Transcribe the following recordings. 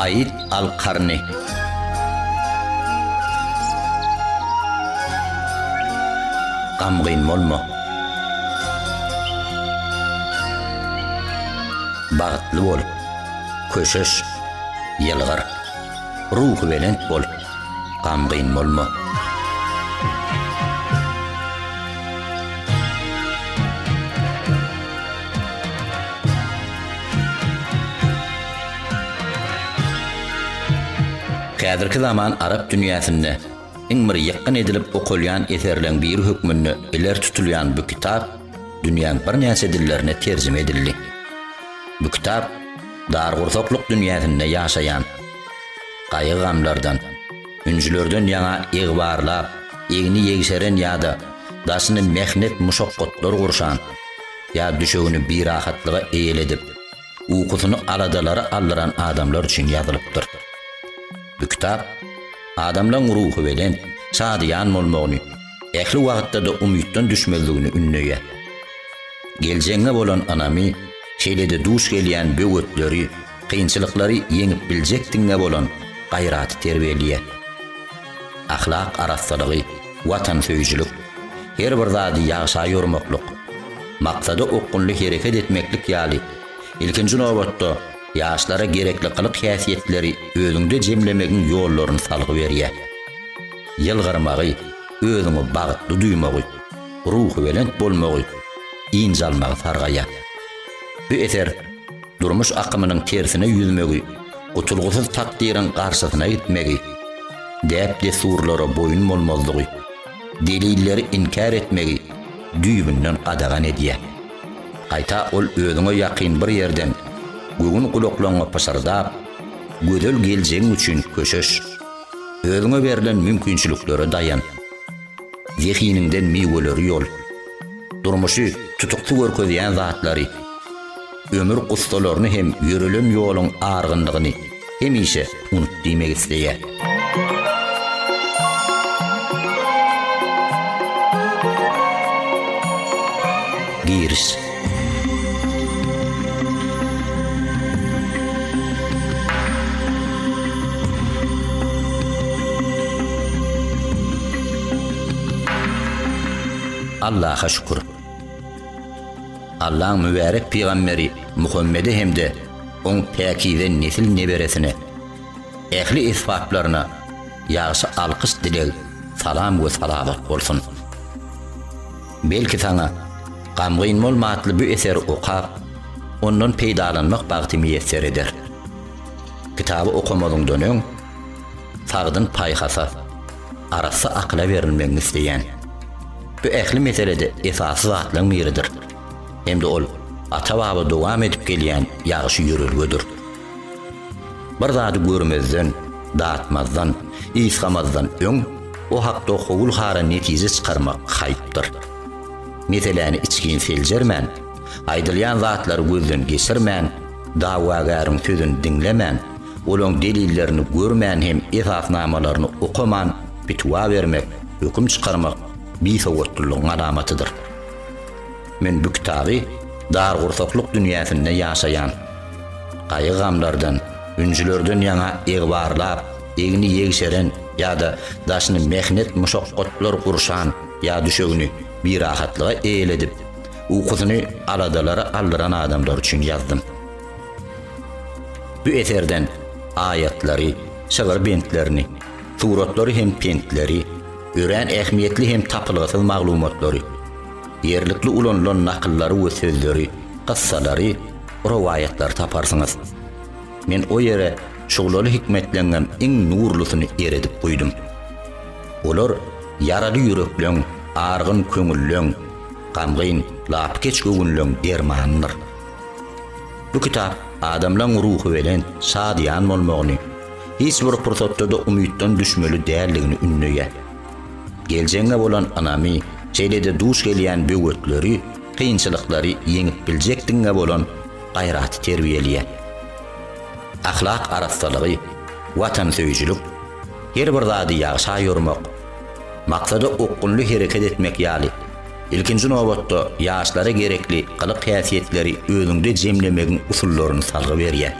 Aid al-Karni Gamgyn bolma! Bagtly bol! Köşeş, ýylgyr, ruhubelent bol, gamgyn bolma. Häzirki zaman arap dünýäsinde iň bir ýykgyn edilip okalýan eserleň biri hökmünde ileri tutulýan bu kitap dünýäň birnäçe dillerine terjime edildi. Bu kitap dargursaklyk dünýäsinde ýaşaýan, gaýgy-gamlardan, ünjülerden ýaňa egbarlap, egni ýegşeren ýa-da daşyny mähnet-muşakgatlar gurşan, ýa düşegini birahatlyga eýledip, ukusyny aladalara aldyran adamlar üçin ýazylypdyr. Bu kitap adamlaryň ruhubelent, şadyýan bolmagyny, ähli wagtda-da umytdan düşmezligini ündeýär. Geljegiňe bolan ynamy, şeýle-de duş gelýän böwetleri, kynçylyklary ýeňip biljekdigiňe bolan gaýraty terbiýeleýär. Ahlak arassalygy, watansöýüjilik, her bir zady ýagşa ýormaklyk, maksada okgunly hereket etmeklik ýaly, ilkinji nobatda, ýaşlara gerekli gylyk-häsiýetleri özüňde jemlemegiň ýollaryny salgy berýär. Ýylgyrmagy, özüňi bagtly duýmagy. ruhubelent bolmagy, dynç almagy sargaýar. Bu eser durmuş akymynyň tersine ýüzmegi, gutulgysyz takdyryň garşysyna gitmegi, däp-dessurlara boýun bolmazlygy, delilleri inkär etmegi düýbünden gadagan edýär. Gaýta ol özüňe ýakyn bir ýerden göwün gulaklaryňa pyşyrdap, gözel geljegiň üçin köşeş. Özüňe berlen mümkinçiliklere daýan. Zehiniňden miweleri ýol. Durmuşy tutukly görkezýän zatlary, ömür gussalaryny hem ýörelen ýoluň argynlygyny hemişe unut diýmek isleýär. Giriş. Allaha şükür. Allaň mübärek pygamberi Muhammede hem-de oň päkize nesil neberesine, ähli esbaplaryna ýagşy alkyş dileg, salam we salamat bolsun. Belki saňa Gamgyn bolma atly bu eseri okap, ondan peýdalanmak bagty miýesser eder. Kitaby okamazyňdan öň, sagdyn paýhasa, arassa akyla berilmegiňi isleýän. Bu ähli meselede esasy zatlaryň biridir. Hem-de ol ata-baba dowam edip gelýän ýagşy ýörelgedir. Bir zady görmezden, datmazdan, ysgamazdan öň o hakda howul-hara netije çykarmak haýpdyr. Meseläni içgin seljermän, aýdylýan zatlary gözden geçirmän, dawagäriň sözüni diňlemän, olaň delillerini görmän hem esasnamalaryny okaman pitiwa bermek, höküm çykarmak bisowatlylygyň alamatydyr. Men bu kitaby dar gursaklyk dünýäsinde ýaşaýan, gaýgy-gamlardan, ünjülerden ýaňa egbarlap, egni ýegşeren ýa-da daşyny mähnet-muşakgatlar gurşan ýa düşegini birahatlyga eýledip, ukusyny aladalara aldyran adamlar üçin ýazdym. Bu eserden aýatlary, şygyr bentlerini, suratlary hem pentleri, örän ähmiýetli hem tapylgysyz maglumatlary, ýerlikli ulanylan nakyllary we sözleri, gyssalary, rowaýatlary taparsyňyz. Men o ýere şuglaly hikmetleňňem iň nurlusyny eredip guýdum. Olar ýaraly ýürekleň, argyn köňülleň, gamgyn, lapykeç göwünleň dermanydyr. Bu kitap adamlaň ruhubelent, şadyýan bolmagyny, hiç bir pursatda-da umytdan düşmeli däldigini ündeýär. Geljegiňe bolan ynamy, şeýle-de duş gelýän böwetleri, kynçylyklary ýeňip biljekdigiňe bolan gaýraty terbiýeleýär. Ahlak arassalygy, watansöýüjilik, her bir zady ýagşa ýormak, maksada okgunly hereket etmek ýaly, ilkinji nobatda, ýaşlara gerekli gylyk-häsiýetleri özüňde jemlemegiň usullaryny salgy berýär.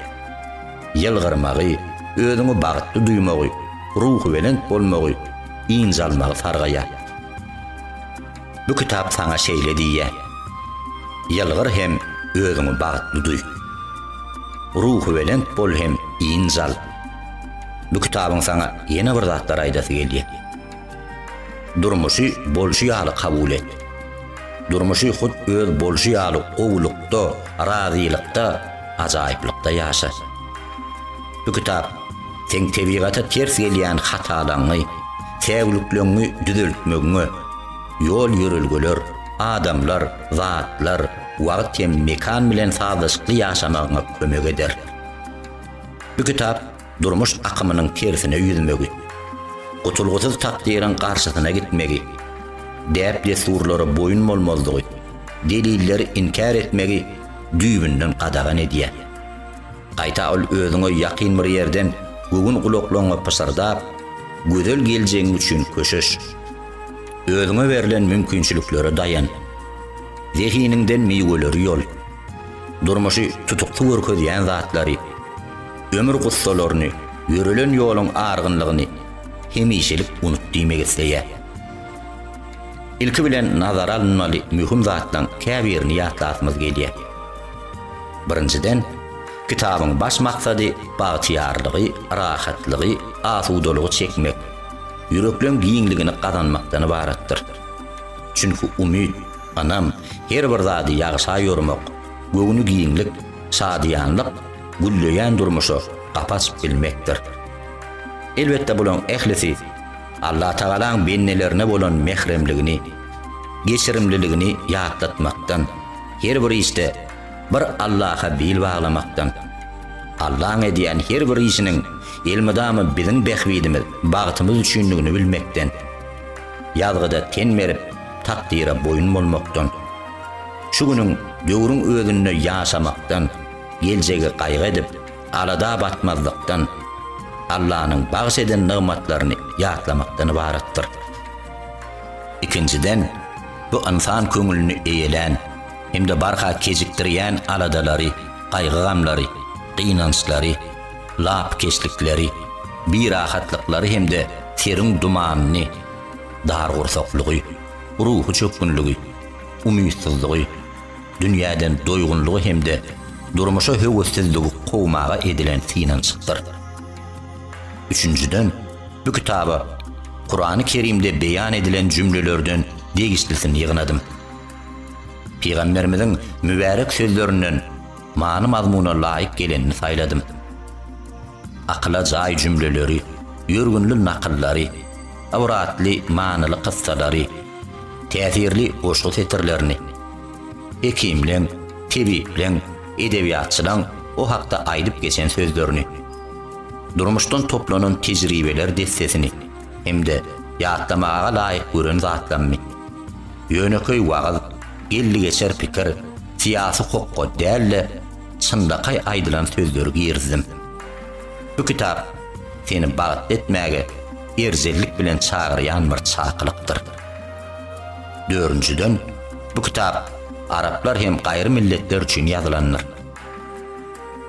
ýylgyrmagy, özüňi bagtly duýmagy, ruhubelent bolmagy, ynj almagy sargaýar. Bu kitap saňa şeýle diýýär, Ýylgyr hem özüňi bagtly duý. Ruhubelent bol hem ynj al. Bu kitabyň saňa ýene bir zatlar aýdasy gelýär. Durmuşy bolşy ýaly kabul et. Durmuşy hut öz bolşy ýaly gowulykda, razylykda, ajaýyplykda ýaşa. Bu kitap seň tebigata ters gelýän hatalaňňy, säwlikleňňi düzeltmegiňe, ýol-ýörelgeler, adamlar, zatlar, wagt hem mekan bilen sazlaşykly ýaşamagyňa kömek eder. Bu kitap durmuş akymynyň tersine ýüzmegi, gutulgysyz takdyryň garşysyna gitmegi, däp-dessurlara boýun bolmazlygy, delilleri inkär etmegi düýbünden gadagan edýär. Gaýta ol özüňe ýakyn bir ýerden göwün gulaklaryňa pyşyrdap, gözel geljegiň üçin köşeş. Özüňe berlen mümkinçiliklere daýan. Zehiniňden miweleri ýol. Durmuşy tutukdy görkezýän zatlary, ömür gussalaryny, ýörelen ýoluň argynlygyny hemişelik unut diýmek isleýär. Ilki bilen nazara alynmaly möhüm zatlaryň käbirini ýatlasymyz gelýär. Birinjiden, kitabyň baş maksady bagtyýarlygy, rahatlygy, asudalygy çekmek, ýürekleň giňligini gazanmakdan ybaratdyr. Çünki umyt, ynam, her bir zady ýagşa ýormak, göwni giňlik, şadyýanlyk, gülleýän durmuşa gapy açyp bilmekdir. Elbetde bularyň ählisi Allatagalaň bendelerine bolan mähremligini, geçirimliligini ýatlatmakdan, her bir işde bir Allaha bil baglamakdan, Allaň edýän her bir işiniň elmydama biziň bähbidimiz, bagtymyz üçindigini bilmekden, ýazgyda ten berip, takdyra boýun bolmakdan, şu günüň, döwrüň özünde ýaşamakdan, Geljegi gaýgy edip, alada batmazlykdan, Allanyň bagyş eden nygmatlaryny ýatlamakdan ybaratdyr. Ikinjiden, bu ynsan köňlüni eýelän hem-de barha kejikdirýän aladalary, gaýgy-gamlary, gynançlary, lapykeçlikleri, birahatlyklary hem-de seriň dumanyny, dargursaklygy, ruhy çökgünligi, umytsyzlygy, dünýäden doýgunlygy hem-de durmuşa höwessizligi kowmaga edilen synanyşykdyr. Üçünjiden, bu kitaba Kurany Kerimde beýan edilen jümlelerden degişlisini ýygnadym. Pygamberimiziň mübärek sözlerinden many-mazmuna laýyk gelenini saýladym. Akyla jaý jümleleri, ýörgünli nakyllary, ybratly manyly kyssalary, täsirli goşgy setirlerini, Hekimleň, tebipleň, edebiýatçylaň o hakda aýdyp geçen sözlerini, durmuşdan toplanan tejribeler dessesini hem-de ýatlamaga laýyk gören zatlaryny, ýönekeý wagyz, geldigeçer pikir, syýasy hokga däl-de, çynlakaý aýdylan sözleri girizdim. Bu kitap seni bagtly etmäge erjellik bilen çagyrýan bir çakylykdyr. Dördünjiden, bu kitap araplar hem gaýry milletler üçin ýazylandyr.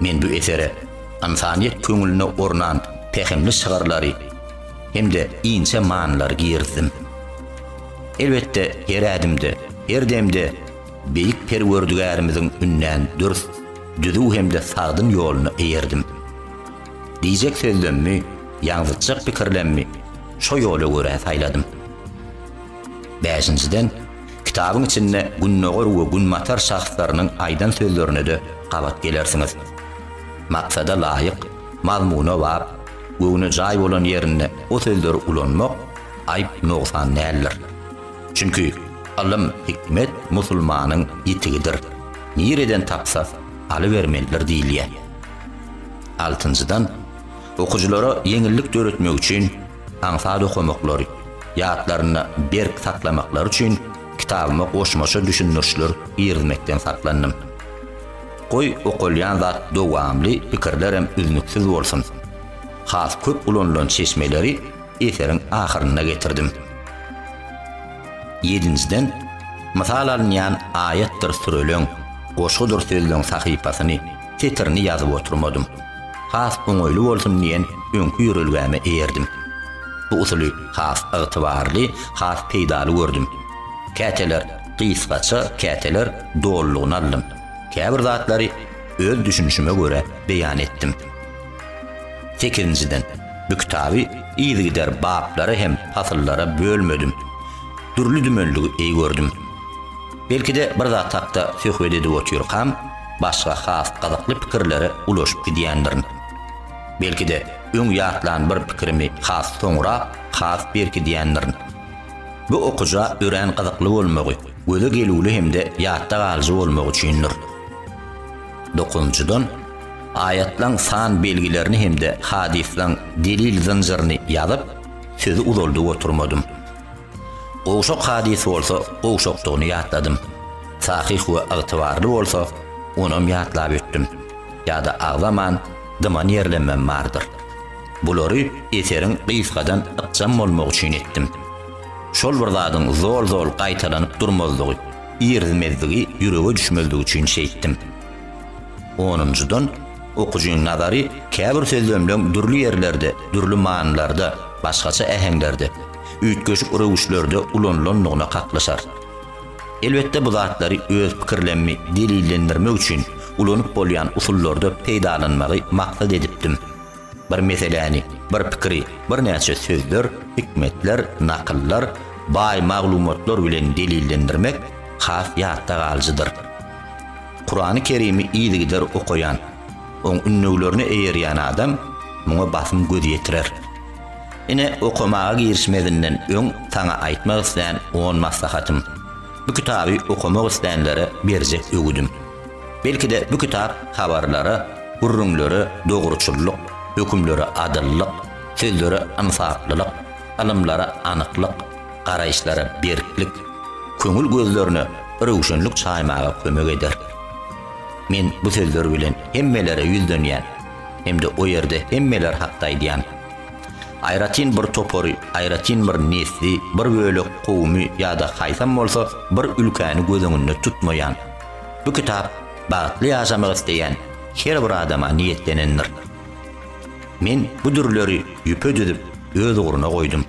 Men bu esere ynsanyýet köňlüne ornan pähimli şygyrlary hem-de inçe manylary girizdim. Elbetde, her ädimde, her demde Beýik Perwerdigärimiziň ünden dürs, düzüw hem-de sagdyn ýoluna eýerdim. Diýjek sözlemmi, ýaňzytjak pikirlemmi, şo ýola görä saýladym. Bäşinjiden, kitabyň içinde Gündogar we Günbatar şahslarynyň aýdan sözlerine-de gabat gelersiňiz. Maksada laýyk, mazmuna bap, göwne jaý bolan ýerinde o sözleri ulanmak aýyp-nogsan däldir. Çünki, ylym, hikmet musulmanyň ýitigidir, nireden tapsa, alybermelidir diýilýär. Altynjydan, okyjylara ýeňillik döretmek üçin aňsat okamaklary, ýatlarynda berk saklamaklary üçin kitabyma goşmaça düşündirişler girizmekden saklandym. Goý, okalýan zat dowamly, pikirler hem üznüksiz bolsun. Has köp ulanylan çeşmeleri eseriň ahyrynda getirdim. Ýedinjiden, mysal alynýan aýatdyr süreleň, goşgudyr sözleň sahypasyny, setirini ýazyp oturmadym. Has oňaýly bolsun diýen öňki ýörelgäme eýerdim. Bu usuly has ygtybarly, has peýdaly gördüm. Käteler gysgaça, käteler dolulygyna aldym. Käbir zatlary öz düşünişime görä beýan etdim. Sekizinjiden, bu kitaby yzygider baplara hem pasyllara bölmedim. Dürli-dümenligi eý gördüm. Belki-de bir zat hakda söhbet edip otyrkam, başga has gyzykly pikirlere ulaşyp gidýändirin. Belki-de, öň ýatlan bir pikirimi has soňra has berkidýändirin. Bu okyja örän gyzykly bolmagy, göze gelüwli hem-de ýatda galyjy bolmagy üçindir. Dokuzynjydan, aýatlaň san belgilerini hem-de hadyslaň delil zynjyryny ýazyp, sözi uzaldyp oturmadym. Gowşak hadys bolsa gowşakdygyny ýatladym. Sahyh we ygtybarly bolsa, onam ýatlap ötdüm. Ýa-da agzaman, dyman ýerlenmem bardyr. Bulary eseriň gysgadan ykjam bolmagy üçin etdim. Şol bir zadyň zol-zol gaýtalanyp durmazlygy, irizmezdigi ýürege düşmezligi üçin şeýtdim. Onunjydan, okyjyň nazary käbir sözlemleň dürli ýerlerde, dürli manylarda, başgaça äheňlerde, üýtgeşik röwüşlerde ulanylandygyna kaklyşar. Elbetde bu zatlary öz pikirlemmi delillendirmek üçin ulanyp bolýan usullarda peýdalanmagy maksat edipdim. Bir meseläni, bir pikiri birnäçe sözler, hikmetler, nakyllar, baý maglumatlar bilen delillendirmek has ýatda galyjydyr. Kurany Kerimi yzygider okaýan, oň ünnewlerine eýerýän adam muňa basym göz ýetirer. Ine, okamaga girişmezinden öň saňa aýtmak islän on maslahatym. Bu kitaby okamak islänlere berjek öwüdim. Belki-de bu kitap habarlara, gürrüňlere dogruçyllyk, hökümlere adyllyk, sözlere ynsaplylyk, ylymlara anyklyk, garaýyşlara berklik, köňül gözlerine röwşenlik çaýmaga kömek eder. Men bu sözler bilen hemmelere ýüzlenýän. hem-de o ýerde hemmeler hakda aýdýan, aýratyn bir topary, aýratyn bir nesli, bir bölek kowumy ýa-da haýsam bolsa bir ülkäni göz öňünde tutmaýan, bu kitap bagtly ýaşamak isleýän her bir adama niýetlenendir. Men bu dürleri ýüpe düzüp, öz ugruna goýdum.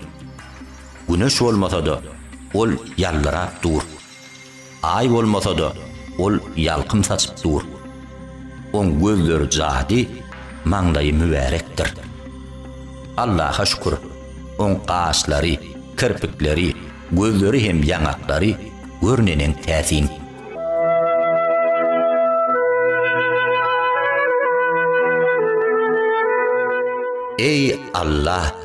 Güneş bolmasa-da, ol ýaldyrap dur. Aý bolmasa-da, ol ýalkym saçyp dur. Oň gözleri jady, maňlaýy mübärekdir. Allaha şükür, oň gaşlary, kirpikleri, gözleri hem ýaňaklary gör neneň täsin. Eý, Alla!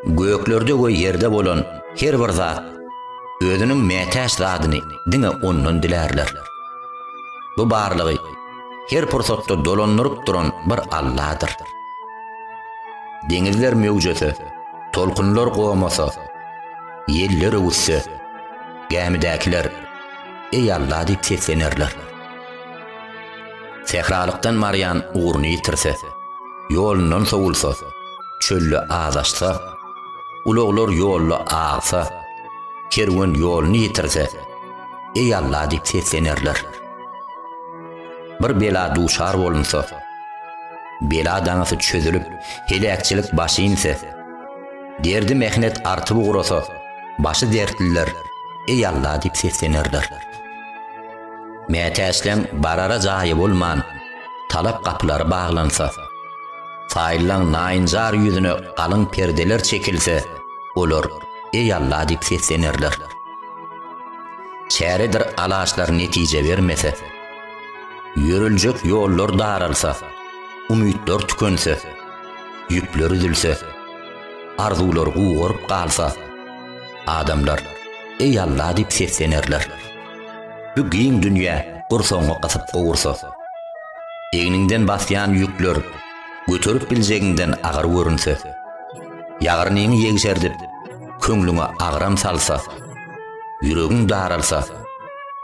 Göklerde we ýerde bolan her bir zat özüniň mätäç zadyny diňe Ondan dilärler. Bu barlygy her pursatda dolandyryp duran bir Alladyr. Deňizler möwjese, tolkunlar gomasa, ýeller öwüsse, gämidäkiler, Eý Alla diýip seslenerler. Sähralykdan barýan ugruny ýitirse, ýolundan sowulsa, çölde azaşsa, ulaglar ýolda agsa, kerwen ýoluny ýitirse, Eý Alla diýip seslenerler. Bir bela duşar bolunsa, bela daňysy çözülip, heläkçilik başy inse, derdi-mähnet artyp ugrasa, başy dertliler Eý Alla diýip seslenerler. Mätäçleň barara jaýy bolman, talap gapylary baglansa, Saýyllaň naýynjar ýüzüne galyň perdeler çekilse, olar, Eý Alla diýip seslenerler. Çäredir alaçlar netije bermese, ýöriljek ýollar daralsa, umytlar tükense, ýüpler üzülse, arzuwlar gugaryp galsa, adamlar, Eý Alla diýip seslenerler. Bu giň dünýä gursagyňy gysyp gowursa, egniňden basýan ýükler göterip biljegiňden agyr görünse, ýagyrnyňy ýegşerdip, köňlüňe agram salsa, ýüregiň daralsa,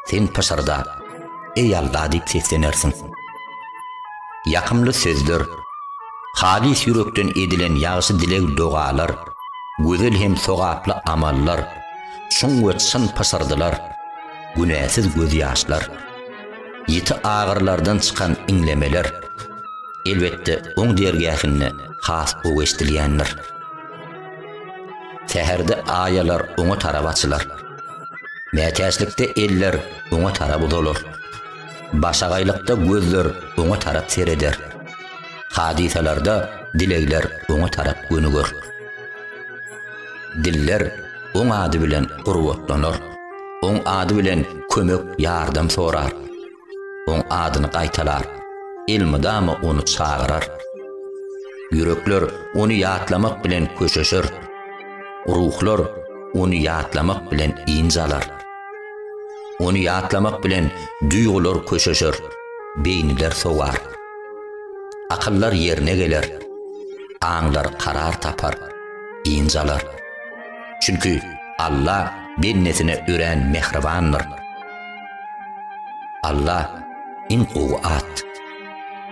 sen pyşyrda, Eý Alla diýip seslenersiň. Ýakymly sözler, halys ýürekden edilen ýagşy dileg-dogalar, gözel hem sogaply amallar, Çuň we çyn pysyrdylar, günäsiz gözýaşlar, ýiti agyrylardan çykan iňlemeler, elbetde, oň dergähinde has gowy eşdilýändir. Säherde aýalar oňa tarap açylar. Mätäçlikde eller oňa tarap uzalar. Başagaýlykda gözler oňa tarap sereder. Hadysalarda dilegler oňa tarap gönüger. Diller Oň ady bilen gurbatlanar, Oň ady bilen kömek, ýardam sorar. Oň adyny gaýtalar, elmydama Ony çagyrar. Ýürekler Ony ýatlamak bilen köşeşer, ruhlar Ony ýatlamak bilen ynj alar. Ony ýatlamak bilen duýgular köşeşer, beýniler sowar. Akyllar ýerine geler, aňlar karar tapar. dynç alar. Çünki Alla bendesine örän mähribandyr. Alla iň gowy at,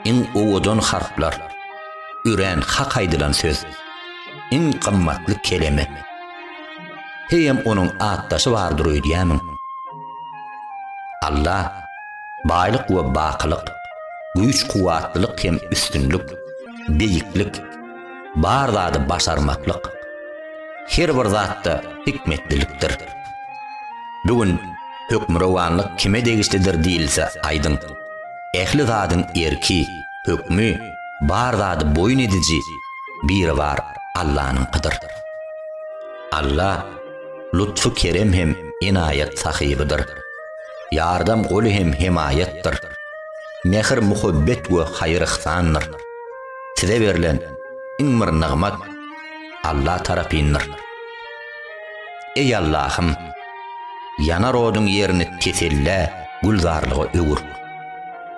iň owadan harplar, örän hak aýdylan söz, iň gymmatly keleme. Heýem onuň atdaşy bardyr öýdýämiň? Alla baýlyk we bakylyk, güýç-kuwwatlylyk hem üstünlik, beýiklik, Bar zady başarmaklyk, her bir zatda hikmetlilikdir. Bu gün hökmürowanlyk kime degişlidir diýilse aýdyň, ähli zadyň erki, hökmi, bar zady boýun ediji Biribar Allanyňkydyr. Alla lutfy kerem hem enaýat sahybydyr. Ýardam goly hem hemaýatdyr. Mähir-muhabbet we haýyr-yhsandyr. size berlen iň bir nygmat Alla tarapyndyr. Eý Allahym, ýanar oduň ýerini tesellä, gülzarlyga öwür.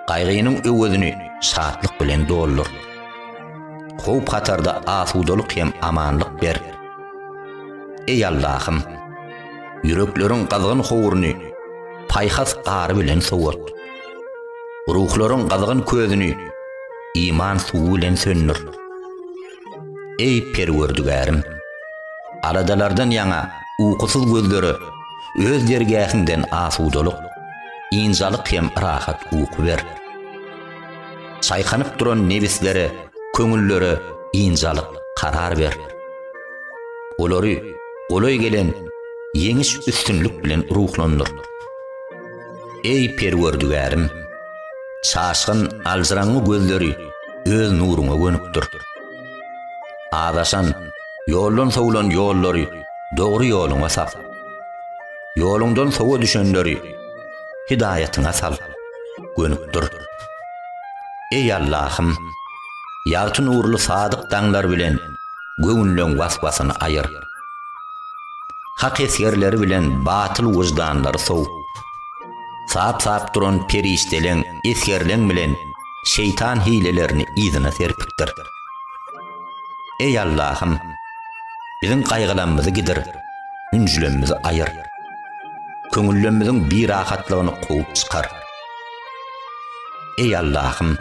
Gaýgynyň öwezini şatlyk bilen doldur. Howp-hatarda asudalyk hem amanlyk ber. Eý Allahym, ýürekleriň gyzgyn howruny paýhas gary bilen sowat. Ruhlaryň gyzgyn közüni iman suwy bilen söndür. Eý Perwerdigärim! Aladalardan ýaňa ukusyz gözlere Öz dergähiňden asudalyk, ynjalyk hem rahat uky ber. Çaýkanyp duran nebislere, köňüllere ynjalyk, karar ber. Olary golaý gelen ýeňiş-üstünlik bilen ruhlandyr. Eý, Perwerdigärim! Çaşgyn, aljyraňňy gözleri Öz nuruňa gönükdir. Azaşan, ýoldan sowlan ýollary Dogry ýoluňa sap. Ýoluňdan sowa düşenleri Hidaýatyňa sal, gönükdir. Eý, Allahym! Ýagty nurly sadyk daňlar bilen Göwünleň was-wasyny aýyr. Hak esgerleri bilen batyl wyždanlary sowup, sap-sap duran perişdeleň, esgerleň bilen şeýtan hilelerini yzyna serpipdir. Eý Allahym! Biziň gaýgylanmyzy gidir, ünjülenmizi aýyr. Köňüllemmiziň birahatlygyny kowup çykar. Eý Allahym!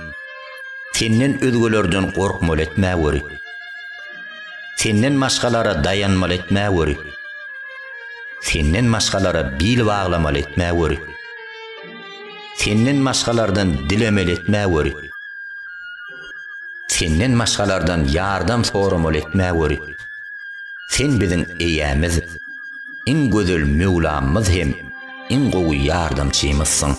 Senden özgelerden gorkmaly etmä göri. Senden maşgalara dayanmaly etmä göri. Senden maşgalara bil baglamaly etmä göri. Senden maşgalardan dilemeli etmä göri. Senden maşgalardan ýardam soramaly etmä göri. Sen biziň eýämiz, iň gözel Möwlamyz hem. Iň gowy ýardamçymyzsyň.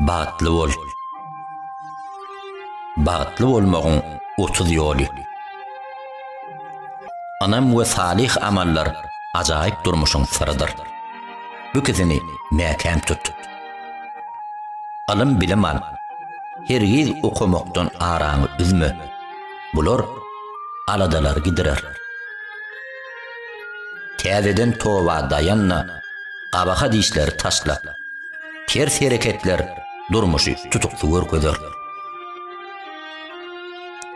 Bagtly bol. Bagtly bolmagyň 30 ýoly. Ynam we salyh amallar ajaýyp durmuşyň syrydyr. Bu ikisini mäkäm tut. Ylym-bilim al. Hergiz okamakdan araňy üzme. Bular aladalary gidirer. Täzeden toba daýanna, gabaha dişleri taşlap, ters hereketler durmuşy tutukly görkezer.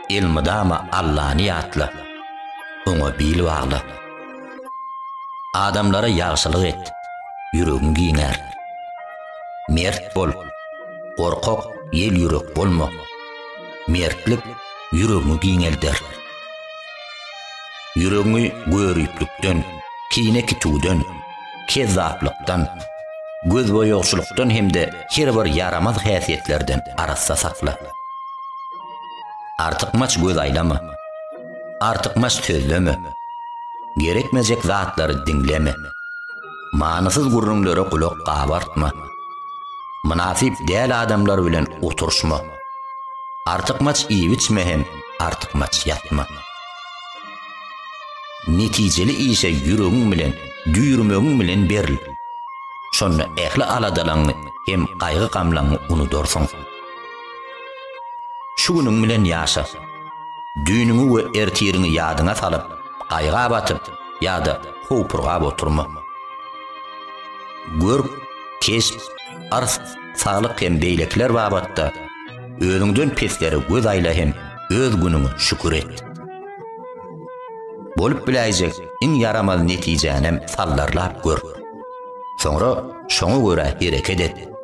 Elmydama Allany ýatla, oňa bil bagla. Adamlara ýagşylyk et, ýüregiň giňär. Mert bol, gorkak, ýel ýürek bolma. Mertlik ýüregiňi giňelder. Ýüregiňi görüplikden, kine kitüwden, kezzaplykdan, gözboýagçylykdan hem-de her bir ýaramaz häsiýetlerden arassa sakla. Artykmaç göz aýlama. Artykmaç sözleme. Gerekmejek zatlary diňleme. Manysyz gürrüňlere gulak gabartma. Mynasyp däl adamlar bilen oturyşma. Artykmaç iýip-içme hem artykmaç ýatma. Netijeli işe ýüregiň bilen, düýrmegiň bilen beril. Şonda ähli aladalaňňy hem gaýgy-gamlaňňy unudarsyň. Şu günüň bilen ýaşa. Düýnüňi we ertiriňi ýadyňa salyp, gaýga batyp ýa-da howpurgap oturma. Görk, keşp, ars, saglyk hem beýlekiler babatda özüňden peslere göz aýla hem öz günüňe şükür et. Bolup biläýjek iň ýaramaz netijänem saldarlap gör. Soňra şoňa görä hereket et.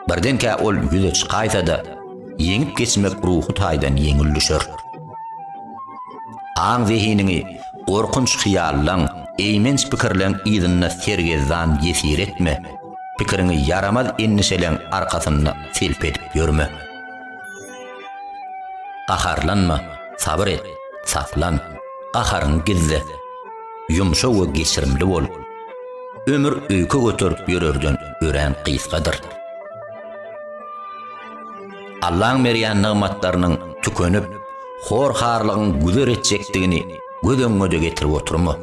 Birdenkä ol ýüze çykaýsa-da, ýeňip geçmek ruhy taýdan ýeňil düşer. Aň-zehiniňi gorkunç hyýallaň, eýmenç pikirleň yzynda sergezdan ýesir etme, pikiriňi ýaramaz endişeleň arkasynda selp edip ýörme. Gaharlanma, sabyr et, saklan, gaharyňy gizle. Ýumşak we geçirimli bol. Ömür öýke göterip ýörerden örän gysgadyr. Allaň berýän nygmatlarynyň tükenip, hor-harlygyň güzer etjekdigini göz öňüňe-de getirip oturma.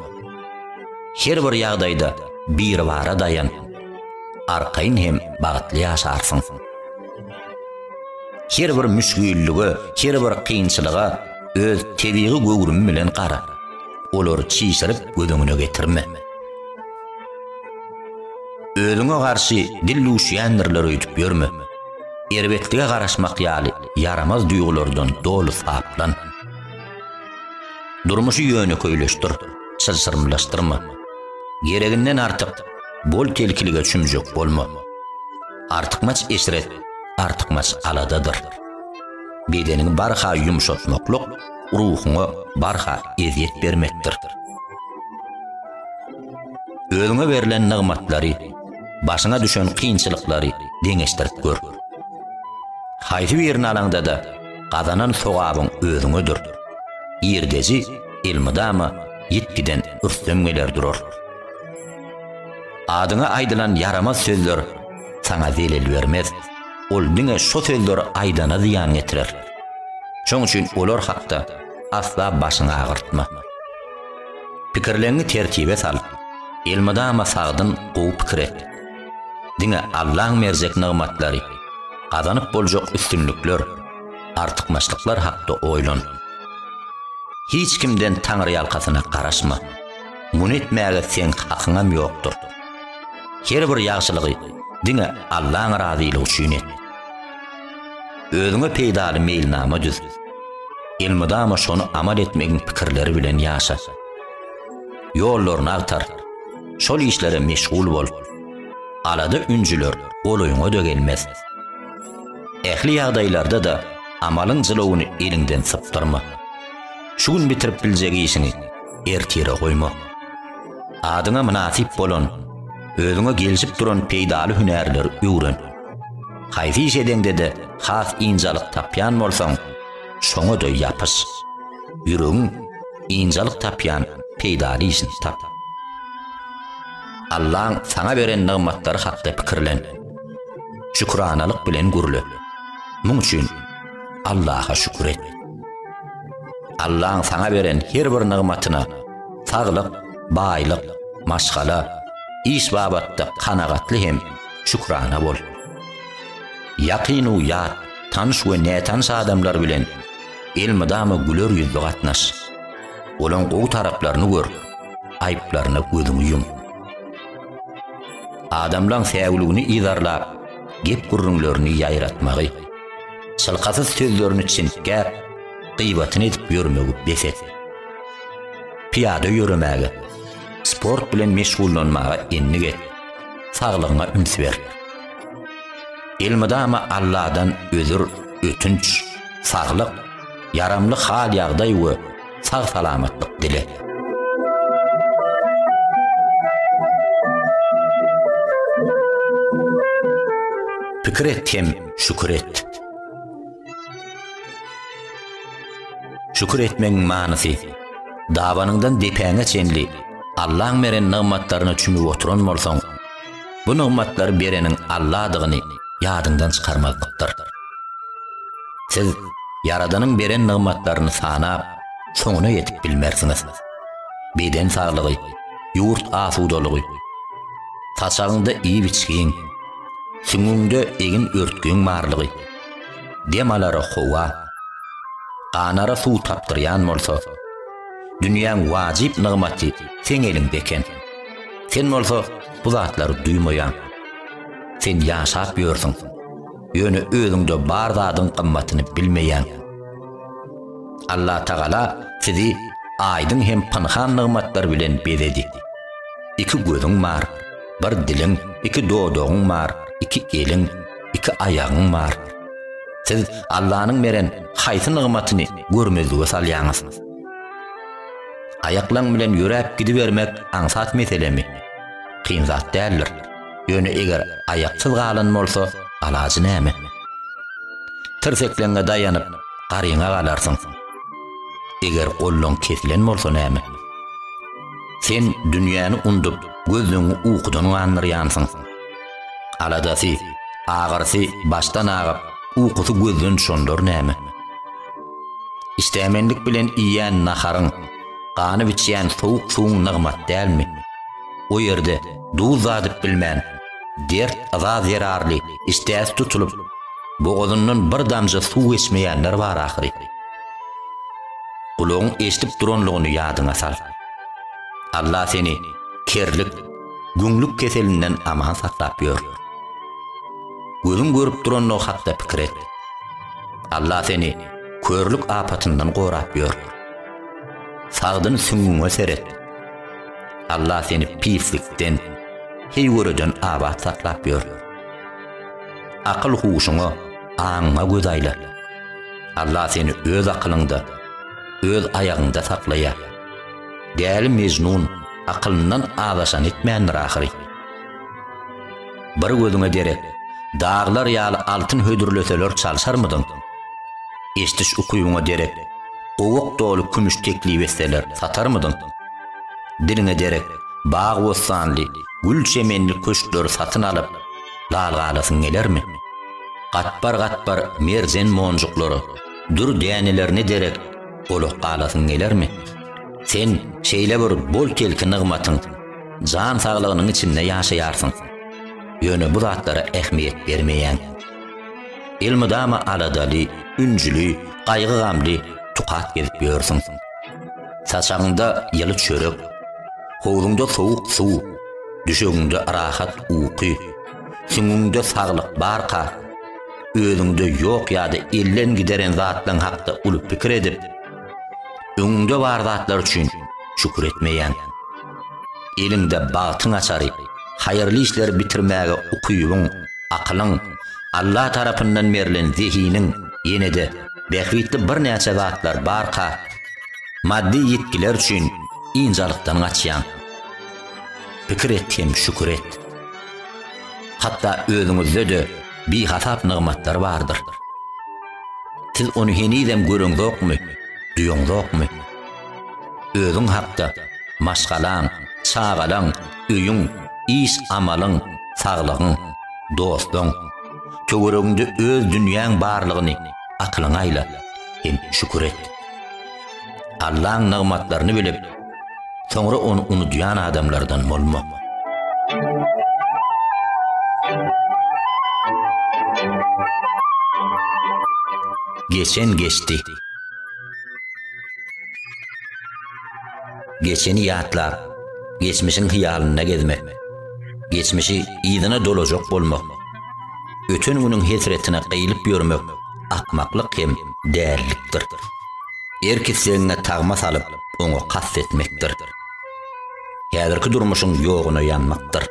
Her bir ýagdaýda Biribara daýan. Arkaýyn hem bagtly ýaşarsyň. Her bir müşgillige, her bir kynçylyga öz tebigy göwrümi bilen gara. Olary çişirip göz öňüne getirme. Özüňe garşy dil duşýändirler öýdüp ýörme. Erbetlige garaşmak ýaly ýaramaz duýgulardan doly saplan. Durmuşy ýönekeýleşdir, çylşyrymlaşdyrma. Gereginden artyk bol-telkilige çümjek bolma. Artykmaç eşret, artykmaç aladadyr. Bedeniňi barha ýumşatmaklyk ruhuňa barha ezýet bermekdir. Özüňe berlen nygmatlary başyňa düşen kynçylyklary deňeşdirip gör. Haýsy birini alaňda-da, gazanan sogabyň özüňedir. Girdeji elmydama ýitgiden rüstem geler durar. Adyňa aýdylan ýaramaz sözler saňa zelel bermez. Ol diňe şo sözleri aýdana zyýan getirer. Şoň üçin olar hakda asla başyňy agyrtma. Pikirleňňi tertibe sal, elmydama sagdyn gowy pikir et. Diňe Allaň berjek nygmatlary, gazanyp boljak üstünlikler, artykmaçlyklar hakda oýlan. Hiç kimden taňryýalkasyna garaşma. Muny etmäge seň hakyňam ýokdur. Her bir ýagşylygy diňe Allaň razylygy üçin et. Özüňe peýdaly meýilnama düz. Elmydama şony amal etmegiň pikirleri bilen ýaşa. Ýollaryny agtar. Şol işlere meşgul bol. Alada-ünjüler golaýyňa-da gelmez. Ähli ýagdaýlarda-da amalyň jylawyny eliňden sypdyrma. Şu gün bitirip biljek işiňi ertire goýma. Adyňa mynasyp bolan, özüňe gelşip duran peýdaly hünärleri öwren. Haýsy iş edeňde-de has ynjalyk tapýan bolsaň, şoňa-da ýapyş. Ýüregiň ynjalyk tapýan peýdaly işini tap. Allaň saňa beren nygmatlary hakda pikirlen. Şükranalyk bilen gürle. Muň üçin Allaha şükür et. Allaň saňa beren her bir nygmatyna, saglyk, baýlyk, maşgala, iş babatda kanagatly hem şükrana bol. Ýakyn u ýat, tanyş we nätanyş adamlar bilen elmydama güler ýüzli gatnaş. Olaň gowy taraplaryny gör, aýyplaryna gözüňi ýum. Adamlaň säwligini yzarlap, gep-gürrüňlerini ýaýratmagy, çylkasyz sözlerini çintgäp, gyýbatyny edip ýörmegi bes et. Pyýada ýöremäge, sport bilen meşgullanmaga endik et. saglygyňa üns ber. Elmydama Alladan özür, ötünç, saglyk, ýaramly hal-ýagdaý we sag-salamatlyk dile. Pikir et hem şükür et. Şükür etmegiň manysy. Dabanyňdan depäňe çenli Allaň beren nygmatlaryna çümüp oturan bolsaň, bu nygmatlary bereniň Alladygyny ýadyňdan çykarmaglykdyr. Siz Ýaradanyň beren nygmatlaryny sanap, soňuna ýetip bilmersiňiz. Beden saglygy, ýurt asudalygy, saçagyňda iýip-içgiň, süňňüňde egin-örtgüň barlygy, Dem alara howa, ganara suw tapdyrýan bolsa, dünýäň wajyp nygmaty seň eliňde eken. Sen bolsa bu zatlary duýmaýaň. Sen ýaşap ýörsüň, ýöne özüňde bar zadyň gymmatyny bilmeýäň. Allatagala sizi aýdyň hem pynhan nygmatlar bilen bezedi. Iki gözüň bar, bir diliň, iki dodagyň bar, iki eliň, iki aýagyň bar. Siz Allanyň beren haýsy nygmatyny görmezlige salýaňyz? Aýaklaň bilen ýöräp gidibermek aňsat meselemi? Kyn zat däldir. Ýöne eger aýaksyz galan bolsa, alajy näme? Tirsekleňňe daýanyp, garyňa galarsyň. Eger gollaň kesilen bolsa näme? Sen dünýäni undup, gözleňňi ukudan gandyrýansyň. Aladasy, agyrysy başdan agyp, ukusy gözden çondar näme? Işdämenlik bilen iýýän naharyň, ganyp içýän sowuk suwuň nygmat dälmi? O ýerde duz dadyp bilmän, dert yza zerarly işdäsi tutulyp, bogazyndan bir damja suw geçmeýänler bar ahyry. Gulagyň eşidip duranlygyny ýadyňa sal. Alla seni kerlik, Güňlük keselinden aman saklap ýör. Gözüň görüp durandygy hakda pikir et. Allah seni körlük apatyndan gorap ýör. Sagdyn süňňüňe seret. Allah seni pislikden, heýgöreden abat saklap ýör. Akyl huşuňa, aňyňa göz aýla. Allah seni öz akylyňda, öz aýagyňda saklaýar. Däli Mejnun akylyndan azaşan etmändir ahyry. Bir gözüňe derek, daglar ýaly altyn hödürleseler çalşarmydyň? Eşdiş ukybyňa derek, gowak doly kümüş teklip etseler satarmydyň? Diliňe derek, bag-bossanly, gül-çemenli köşkleri satyn alyp, lal galasyň gelermi? Gatbar-gatbar merjen monjuklary, dür dänelerini derek, Golak galasyň gelermi? Sen şeýle bir bol-kelki nygmatyň, jan saglygynyň içinde ýaşaýarsyň. Ýöne bu zatlara ähmiýet bermeýäň. Elmydama aladaly, ünjüli, gaýgy-gamly, tukat gezip ýörsüň. Saçagyňda ýyly çörek, howzuňda sowuk suw, düşegiňde rahat uky, süňňüňde saglyk barka, özüňde ýok ýa-da elden gideren zatlaryň hakda uly pikir edip, öňüňde bar zatlar üçin şükür etmeýäň. Eliňde bagtyň açary, haýyrly işleri bitirmäge ukybyň, akylyň, Alla tarapyndan berlen zehiniň, ýene-de bähbitli birnäçe zatlar barka, maddy ýitgiler üçin ynjalykdan gaçýaň. Pikir et hem şükür et. Hatda özüňizde-de bihasap nygmatlar bardyr. Siz ony henizem göreňzokmy, duýaňzokmy? Özüň hakda, maşgalaň, çagalaň, öýüň, iş-amalyň, saglygyň, dostuň, töweregiňde öz dünýäň barlygyny akylyňa aýla hem şükür et. Allaň nygmatlaryny bilip, soňra ony unudýan adamlardan bolma. Geçen geçdi. Geçeni ýatlap, geçmişiň hyýalynda gezmek. Geçmişi ýygyna dolajak bolmak. Öten günüň hesretine gyýlyp ýörmek. akmaklyk hem dälilikdir. Erk islegiňe tagma salyp, oňa kast etmekdir. Häzirki durmuşyň ýoguna ýanmakdyr.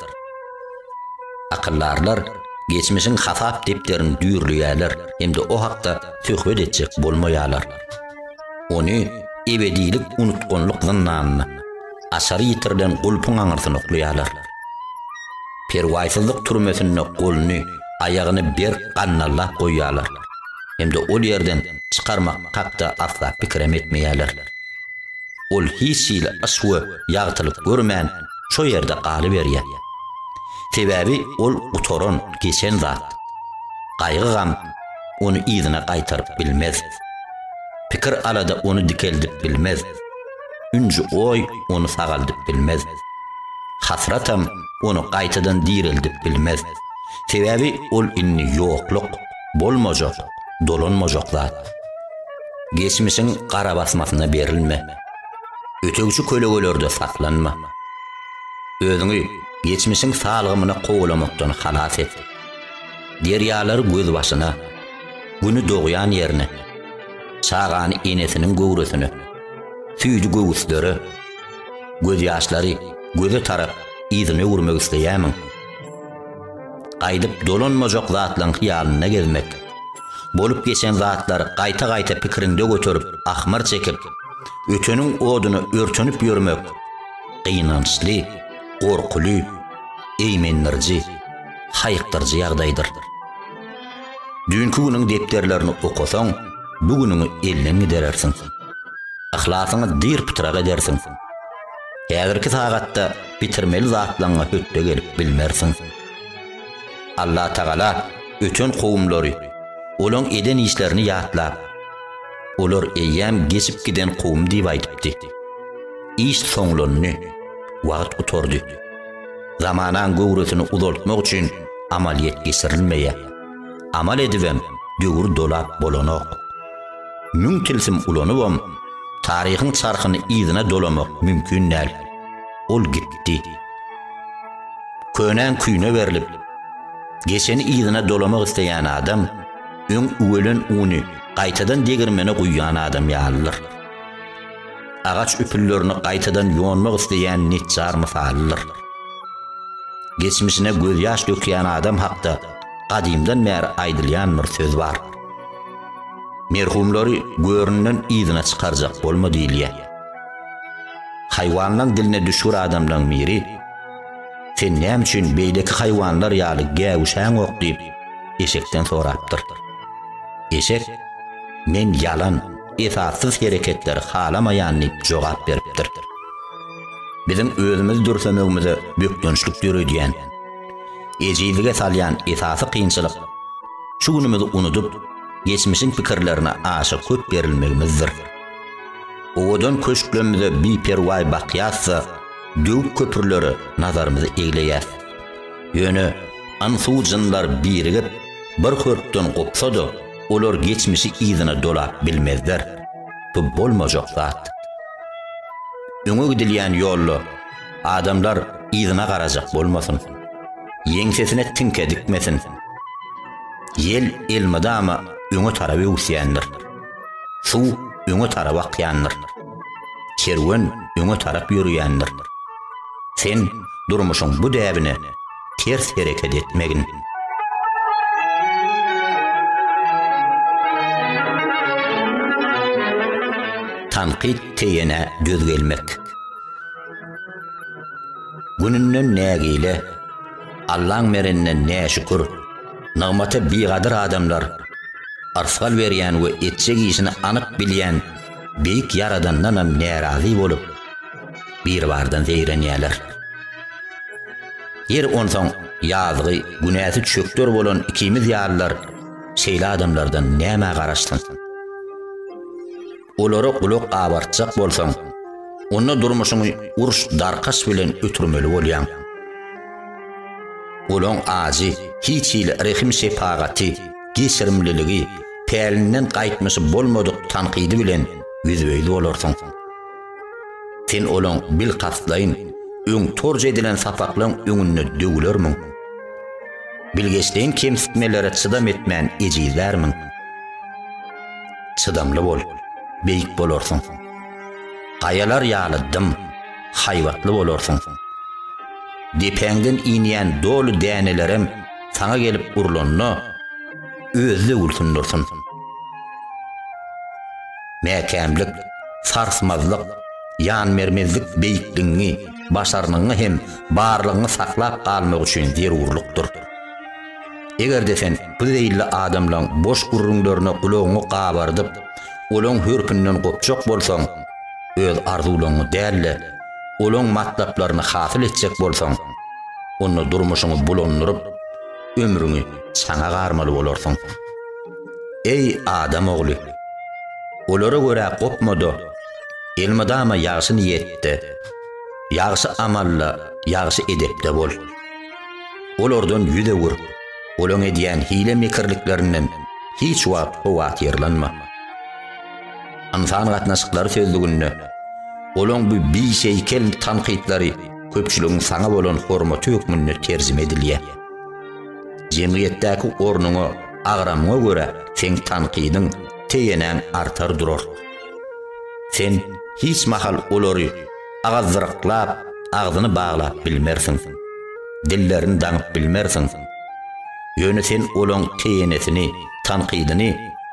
Akyldarlar geçmişiň hasap depderini düýrleýärler hem-de o hakda söhbet etjek bolmaýarlar. Ony ebedilik unutganlyk zyndanyna, açary ýitirilen gulpuň aňyrsyna oklaýarlar. perwaýsyzlyk türmesinde goluny, aýagyny berk gandallap goýýarlar hem-de ol ýerden çykarmak hakda asla pikirem etmeýärler. Ol hiç hili yş we ýagtylyk görmän, şo ýerde galyberýär. Sebäbi ol gutaran, geçen zat. Gaýgy-gam ony yzyna gaýtaryp bilmez. Pikir-alada ony dikeldip bilmez. Ünji goý, ony sagaldyp bilmez. Hasratam ony gaýtadan direldip bilmez. Sebäbi ol indi ýokluk, bolmajak, dolanmajak zat. Geçmişiň gara basmasyna berilme. Ötegçi kölegelerde saklanma. Özüňi geçmişiň salgymyna kowalamakdan halas et. Derýalary gözbaşyna, Güni dogýan ýerine, Çagany enesiniň göwresine. Süýji göwüslere, gözýaşlary göze tarap yzyny öwürmek isleýämiň? Gaýdyp dolanmajak zatlaryň hyýalynda gezmek, bolup geçen zatlary gaýta-gaýta pikiriňde göterip, ahmyr çekip, öteniň oduna örtenip ýörmek gynançly, gorkuly, eýmendiriji, haýykdyryjy ýagdaýdyr. Düýnki günüň depderlerini okasaň, bu günüňi elden giderersiň. Yhlasyňy dyr-pytrak edersiň. Häzirki sagatda bitirmeli zatlaryňa hötde gelip bilmersiň. Allatagala öten kowumlary, olaň eden işlerini ýatlap, Olar eýýäm geçip giden kowum diýip aýdypdy. Iş soňlandy. Wagt gutardy. Zamanaň göwresini uzaltmak üçin amalyýet geçirilmeýär. Amal edibem döwür dolap bolanok. Müň tilsim ulanybam taryhyň çarhyny yzyna dolamak mümkin däl. Ol gitdi. Könäň küýüne berlip, geçeni yzyna dolamak isleýän adam öň üwelen uny gaýtadan degirmene guýýan adam ýalydyr. agaç üpüllerini gaýtadan ýonmak isleýän neçjar mysalydyr. Geçmişine gözýaş dökýän adam hakda gadymdan bäri aýdylýan bir söz bar. Merhumlary göründen yzyna çykarjak bolma diýilýär. Haýwanlaň diline düşgür adamlaň biri, Sen näme üçin beýleki haýwanlar ýaly gäwüşäňok diýip, eşekden sorapdyr. Eşek, Men ýalan, esassyz hereketleri halamaýan diýip jogap beripdir. Biziň özümizi dürsemegimize bökdençlik döredýän, ejizlige salýan esasy kynçylyk şu günümizi unudyp, geçmişiň pikirlerine aşa köp berilmegimizdir. Owadan köşklerimize biperwaý bakýas-da, döwük köprülere nazarymyzy egleýäs. Ýöne, ynsu-jynlar birigip, bir hörpden gopsa-da, Olar geçmişi yzyna dolap bilmezler. Bu bolmajak zat. Öňe gidilýän ýolda adamlar yzyna garajak bolmasyn. Ýeňsesine tiňke dikmesin. Ýel elmydama öňe tarap öwüsýändir. Suw öňe tarap akýandyr. Kerwen öňe tarap ýörýändir. Sen durmuşyň bu däbine ters hereket etmegin. Tankyt teýene döz gelmek. Gününden nägile, Allaň merinden näşükür, nygmata bigadyr adamlar, arsgal berýän we etjek işini anyk bilýän beýik Ýaradandanam närazy bolup, Biribardan zeýrenýärler. Ýeri onsoň ýazgy, günäsi çökder bolan ikimiz ýalylar şeýle adamlardan nämä garaşsyn? Olara gulak abartjak bolsaň, onda durmuşyňy uruş-darkaş bilen ötürmeli bolýaň. Olaň ajy, hiç hili rehim-şepagaty, geçirimliligi, pälinden gaýtmyşy bolmadyk tankydy bilen ýüzbe-ýüz bolarsyň. Sen olaň bilkastlaýyn öň torja edilen sapaklaň öňünde döwülermiň? Bilgeşleýin kemsitmelere çydam etmän ejizlärmiň? Çydamly bol, beýik bolarsyň. Gaýalar ýaly dym, haýbatly bolarsyň. Depäňden inýän doly dänelerem saňa gelip urlanda, özi-de gülsün dursun. Mäkämlik, sarsmazlyk, ýanbermezlik beýikligiňi, başarnygyňy hem barlygyňy saklap galmak üçin zerurlykdyr. Eger-de sen bu zeýilli adamlaň boş gürrüňlerine gulagyňy gabardyp, olaň hörpünden gopjak bolsaň, öz arzuwlaryňy däl-de, olaň matlaplaryny hasyl etjek bolsaň, onda durmuşyňy bulandyryp, ömrüňi çaňa garmaly bolarsyň. Eý, adam ogly! Olara görä gopma-da, elmydama ýagşy niýetde, ýagşy amalla, ýagşy edepde bol. Olardan ýüz öwür, olaň edýän hile-mekirliklerinden hiç wagt howatyrlanma. Ynsan gatnaşyklary sözlüginde olaň bu biseýkel tankytlary köpçüligiň saňa bolan hormaty hökmünde terjime edilýär. Jemgyýetdäki ornuňa, agramyňa görä seň tankydyň, tegenäň artar durar. Sen hiç mahal olary agazdyraklap, agzyny baglap bilmersiň. Dillerini daňyp bilmersiň. Ýöne sen olaň tegenesini, tankydyny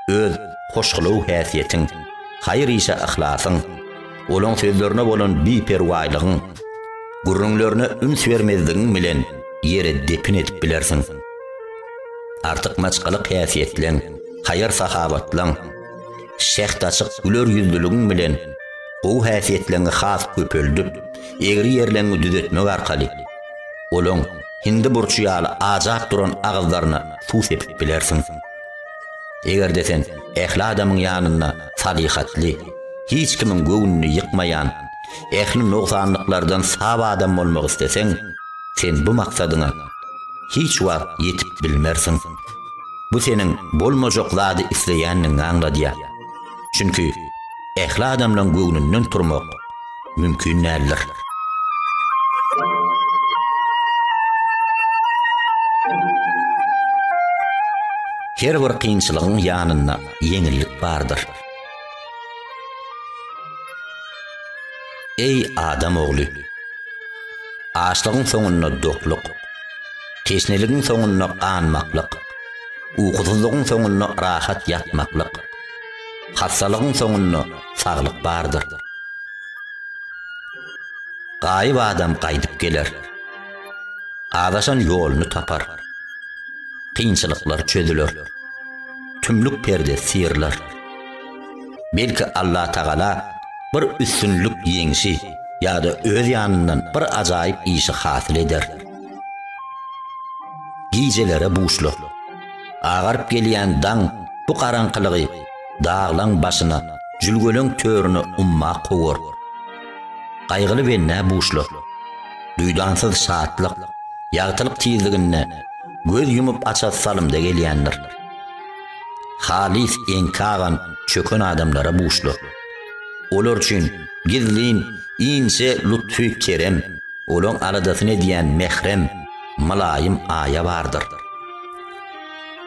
öz hoşgylaw häsiýetiň, haýyr işe yhlasyň, Olaň sözlerine bolan biperwaýlygyň, gürrüňlerine üns bermezligiň bilen ýere depin edip bilersiň. Artykmaçlyk häsiýetleň, haýyr-sahawatlaň, şäht açyk güler ýüzlüligiň bilen gowy häsiýetleňi has köpeldip, egri ýerleňi düzetmek arkaly, olaň hindi burçy ýaly ajap duran agyzlaryna suw sepip bilersiň. Eger-de sen ähli adamyň ýanynda salyhatly, hiç kimiň göwnüni ýykmaýan, ähli nogsanlyklardan sap adam bolmak isleseň, sen bu maksadyňa hiç wagt ýetip bilmersiň. Bu seniň bolmajak zady isleýändigiňi aňladýar. Çünki ähli adamlaň göwnünden turmak mümkin däldir. Her bir kynçylygyň ýanynda ýeňillik bardyr. Eý adam ogly! Açlygyň soňunda dokluk, teşneligiň soňunda ganmaklyk, ukusyzlygyň soňunda rahat ýatmaklyk, Hassalygyň soňunda saglyk bardyr. Gaýyp adam gaýdyp geler. Azaşan ýoluny tapar. Kynçylyklar çözüler. Tümlük perdesi syrylar. Belki Allatagala bir üstünlik ýeňşi ýa-da öz ýanyndan bir ajaýyp işi hasyl eder. Gijelere buşla. Agaryp gelýän daň bu garaňkylygy daglaň başyna, jülgeleň törüne umma kowar. Gaýgyly bennä buşlar. Duýdansyz şatlyk, ýagtylyk tizliginde göz ýumup açasy salymda gelýändir. Halys enkagan çöken adamlara buşlar. Olar üçin gizlin inçe lutfy kerem, olaň aladasyny edýän mährem, mylaýym aýa bardyr.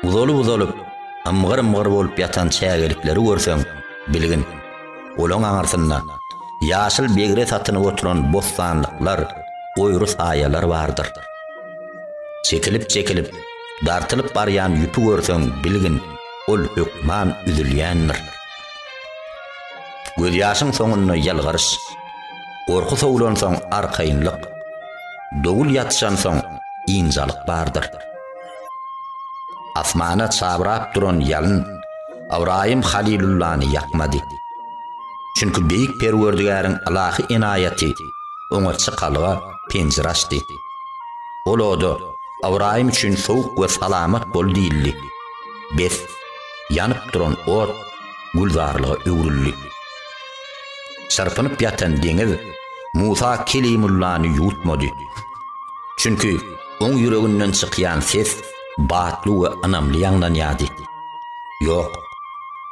Uzalyp-uzalyp, ymgyr-ymgyr bolup ýatan çägelikleri görseň, bilgin, olaň aňyrsynda ýaşyl begre satynyp oturan bossanlyklar, goýry saýalar bardyr. Çekilip-çekilip, dartylyp barýan ýüpi görseň, bilgin, ol hökman üzülýändir. Gözýaşyň soňunda ýylgyryş. Gorky sowlansoň arkaýynlyk, dowul ýatyşansoň ynjalyk bardyr. Asmana çabrap duran ýalyn Ybraýym Halylullany ýakmady. Çünki Beýik Perwerdigäriň ylahy enaýaty oňa çykalga penjire açdy. Ol oda Ybraýym üçin sowuk we salamat bol diýildi. Bes, ýanyp duran ot gülzarlyga öwrüldi. Çyrpynyp ýatan deňiz Musa Kelimullany ýuwutmady. Çünki oň ýüreginden çykýan ses batly we ynamly ýaňlanýardy. Ýok,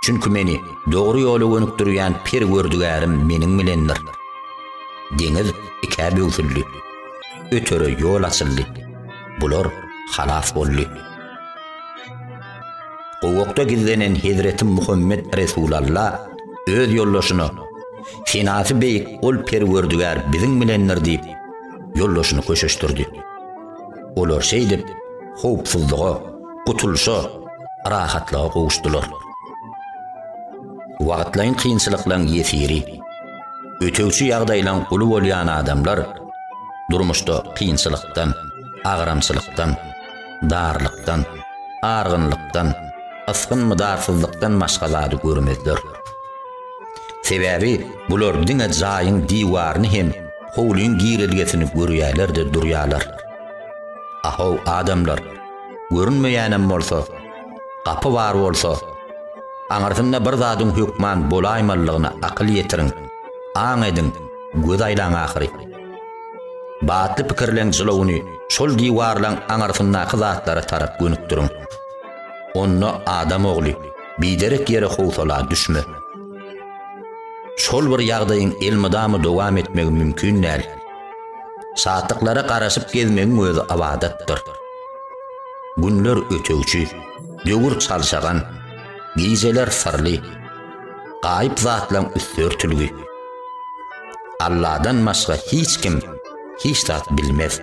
çünki meni dogry ýola gönükdirýän Perwerdigärim meniň bilendir. Deňiz ikä böwsüldi. Ötere ýol açyldy. Bular halas boldy. Gowakda gizlenen Hezreti Muhammet Resulalla öz ýoldaşyna, Senasy beýik ol Perwerdigär biziň bilendir diýip, ýoldaşyny köşeşdirdi. Olar şeýdip, howpsuzlyga, gutulyşa, rahatlyga gowuşdylar. Wagtlaýyn kynçylyklaryň ýesiri, ötegçi ýagdaýlaryň guly bolýan adamlar durmuşda kynçylykdan, agramçylykdan, darlykdan, argynlykdan, ysgyn-mydarsyzlykdan başga zady görmezler. Sebäbi bular diňe jaýyň diwaryny hem howlyň girelgesini görýärler-de durýarlar. A-how, adamlar, görünmeýänem bolsa, gapy bar bolsa, aňyrsynda bir zadyň hökman bolaýmalydygyna akyl ýetiriň, aň ediň, göz aýlaň ahyry. Batly pikirleň jylawyny şol diwarlaň aňyrsyndaky zatlara tarap gönükdiriň. Onda adam ogly, biderek ýere howsala düşme. Şol bir ýagdaýyň elmydama dowam etmegi mümkin däl. Şatlyklara garaşyp gezmegiň özi ybadatdyr. Günler ötegçi, döwür çalşagan, gijeler syrly, gaýyp zatlaň üsti örtülgi. Alladan başga hiç kim hiç zat bilmez.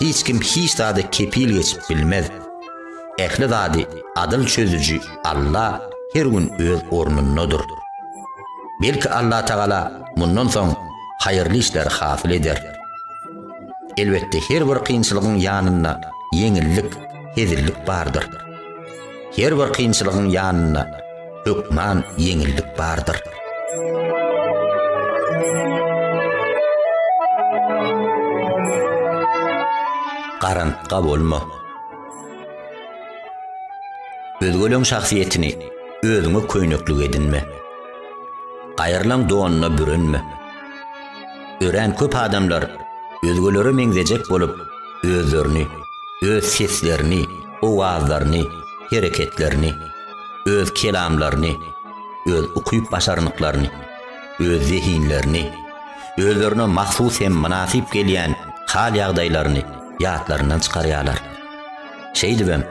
Hiç kim hiç zady kepil geçip bilmez. Ähli zady adyl çözüji Alla her gün öz ornundadyr. Belki Alla Tagala mundan soň haýyrly işleri hasyl eder. Elbetde her bir kynçylygyň ýanynda ýeňillik, hezillik bardyr. Her bir kynçylygyň ýanynda hökman ýeňillik bardyr. Garantga bolma. Özgeleň şahsyýetini özüňe köýneklik edinme. Gaýrylaň donuna bürenme. Örän köp adamlar özgelere meňzejek bolup, özlerini, öz seslerini, owazlaryny, hereketlerini, öz kelamlaryny, öz ukyp-başarnyklaryny, öz zehinlerini, özlerine mahsus hem mynasyp gelýän hal-ýagdaýlaryny ýatlaryndan çykarýarlar. Şeýdibem,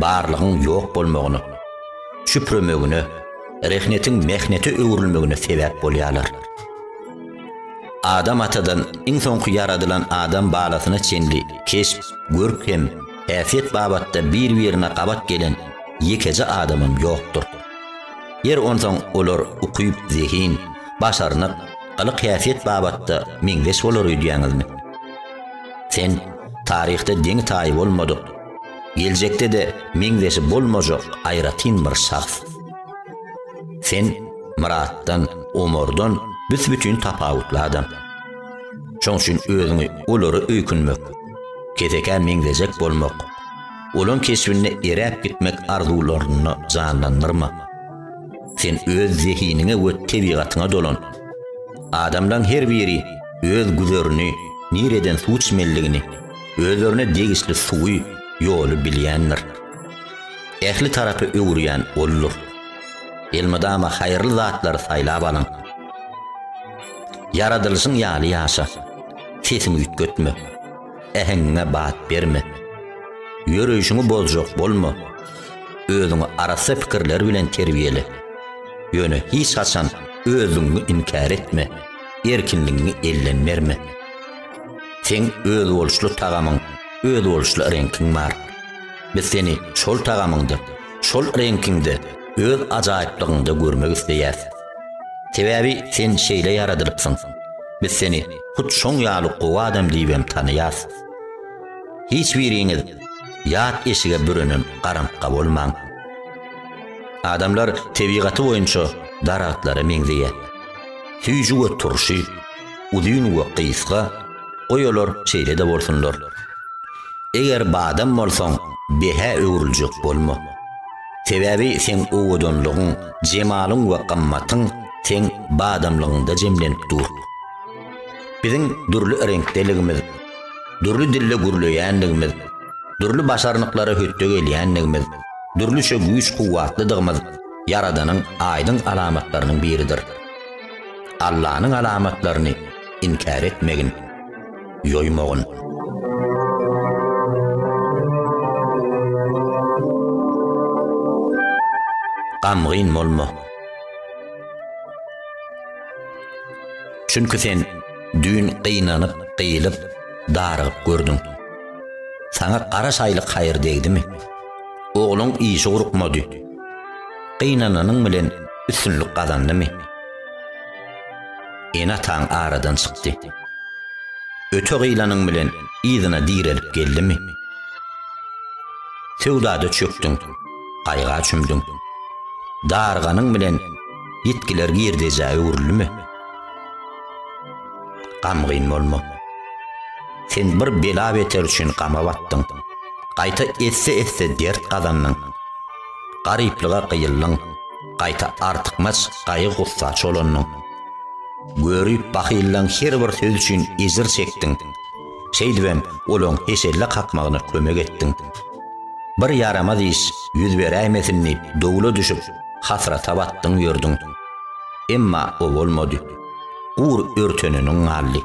barlygyň ýok bolmagyna, çüpremegine, rehnetiň mehnete öwrülmegine sebäp bolýarlar. Adam atadan iň soňky ýaradylan adam balasyna çenli keşp, görk hem Häsiýet babatda bir-birine gabat gelen ýekeje adamym ýokdur. Ýeri onsoň olar ukyp, zehin, başarnyk, gylyk-häsiýet babatda meňzeş bolar öýdýäňizmi? Sen taryhda deňi-taýy bolmadyk, geljekde-de meňzeşi bolmajak aýratyn bir şahs. Sen Myratdan, Omardan büs-bütin tapawutly adam. Şoň üçin özüňi olara öýkünmek, kesekä meňzejek bolmak, olaň keşbinde eräp gitmek arzuwlaryny janlandyrma. Sen öz zehiniňe we tebigatyňa dolan. Adamlaň her biri öz güzerini, nireden suw içmelidigini, özlerine degişli suwy, ýoly bilýändir. Ähli tarapy öwürýän oldur. Elmydama haýyrly zatlary saýlap alyň. Ýaradylyşyň ýaly ýaşa. Sesiňi üýtgetme. Äheňiňe bat berme. Ýöreýşiňi bozjak bolma. Özüňi arassa pikirler bilen terbiýele. Ýöne hiç haçan özlügiňi inkär etme, erkinligiňi elden berme. Seň özboluşly tagamyň, özboluşly reňkiň bar. Biz seni şol tagamyňda, şol reňkiňde, öz ajaýyplygyňda görmek isleýäs. Sebäbi sen şeýle ýaradylypsyň. Biz seni hut şoň ýaly gowy adam diýibem tanaýas. Hiç biriňiz ýat eşige bürenem garantga bolmaň. Adamlar tebigaty boýunça daragtlara meňzeýär. Süýji we turşy, uzyn we gysga, goý olar şeýle-de bolsunlar. Eger badam bolsaň, behä öwrüljek bolma. Sebäbi seň owadanlygyň, jemalyň we gymmatyň seň badamlygyňda jemlenip dur. Biziň dürli reňkdeligimiz, dürli dilde gürleýänligimiz, dürli başarnyklara hötde gelýänligimiz, dürlüçe güýç-kuwwatlydygymyz Ýaradanyň aýdyň alamatlarynyň biridir. Allanyň alamatlaryny inkär etmegin. ýoýmagyn. Gamgyn bolma. Çünki sen düýn gynanyp, gyýylyp, darygyp gördüň. Saňa gara şaýlyk haýyr degdimi? Ogluň işi gurkmady. Gynananyň bilen üstünlik gazandymy? Ene-ataň aradan çykdy. Öte gylanyň bilen yzyna direlip geldimi? Söwdada çökdüň, gaýga çümdüň. Darganyň bilen ýitgiler girdejä öwrülimi? Gamgyn bolma. Sen bir bela-beter üçin gama batdyň. Gaýta esse-esse dert gazandyň. Garyplyga gyýyldyň. Gaýta artykmaç gaýgy-gussa çolandyň. Görüp bahyllaň her bir söz üçin ejir çekdiň. Şeýdibem olaň heşelle kakmagyna kömek etdiň. Bir ýaramaz iş ýüz beräýmesin diýip dowla düşüp, hasrata batdyň ýördüň. Emma o bolmady. Gur örteneniň galdy.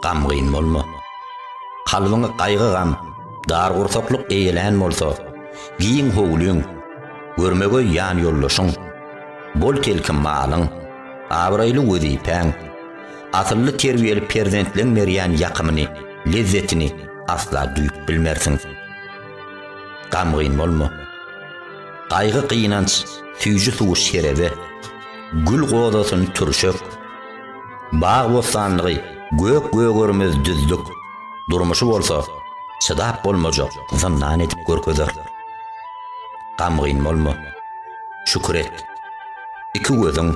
Gamgyn bolma. Kalbyňy gaýgy-gam, dargursaklyk eýelän bolsa, giň howlyň, görmegeý ýan ýoldaşyň, bol telki malyň, abraýly wezipäň, asylly terbiýeli perzentleň berýän ýakymyny, lezzetini asla duýup bilmersiň. Gamgyn bolma. Gaýgy-gynanç süýji suwy şerebe, gül gozasyn türşek, bag-bossanlygy gök-gögermez düzlük, durmuşy bolsa çydap bolmajak zyndan edip görkezer. Gamgyn bolma. Şükür et. Iki gözüň,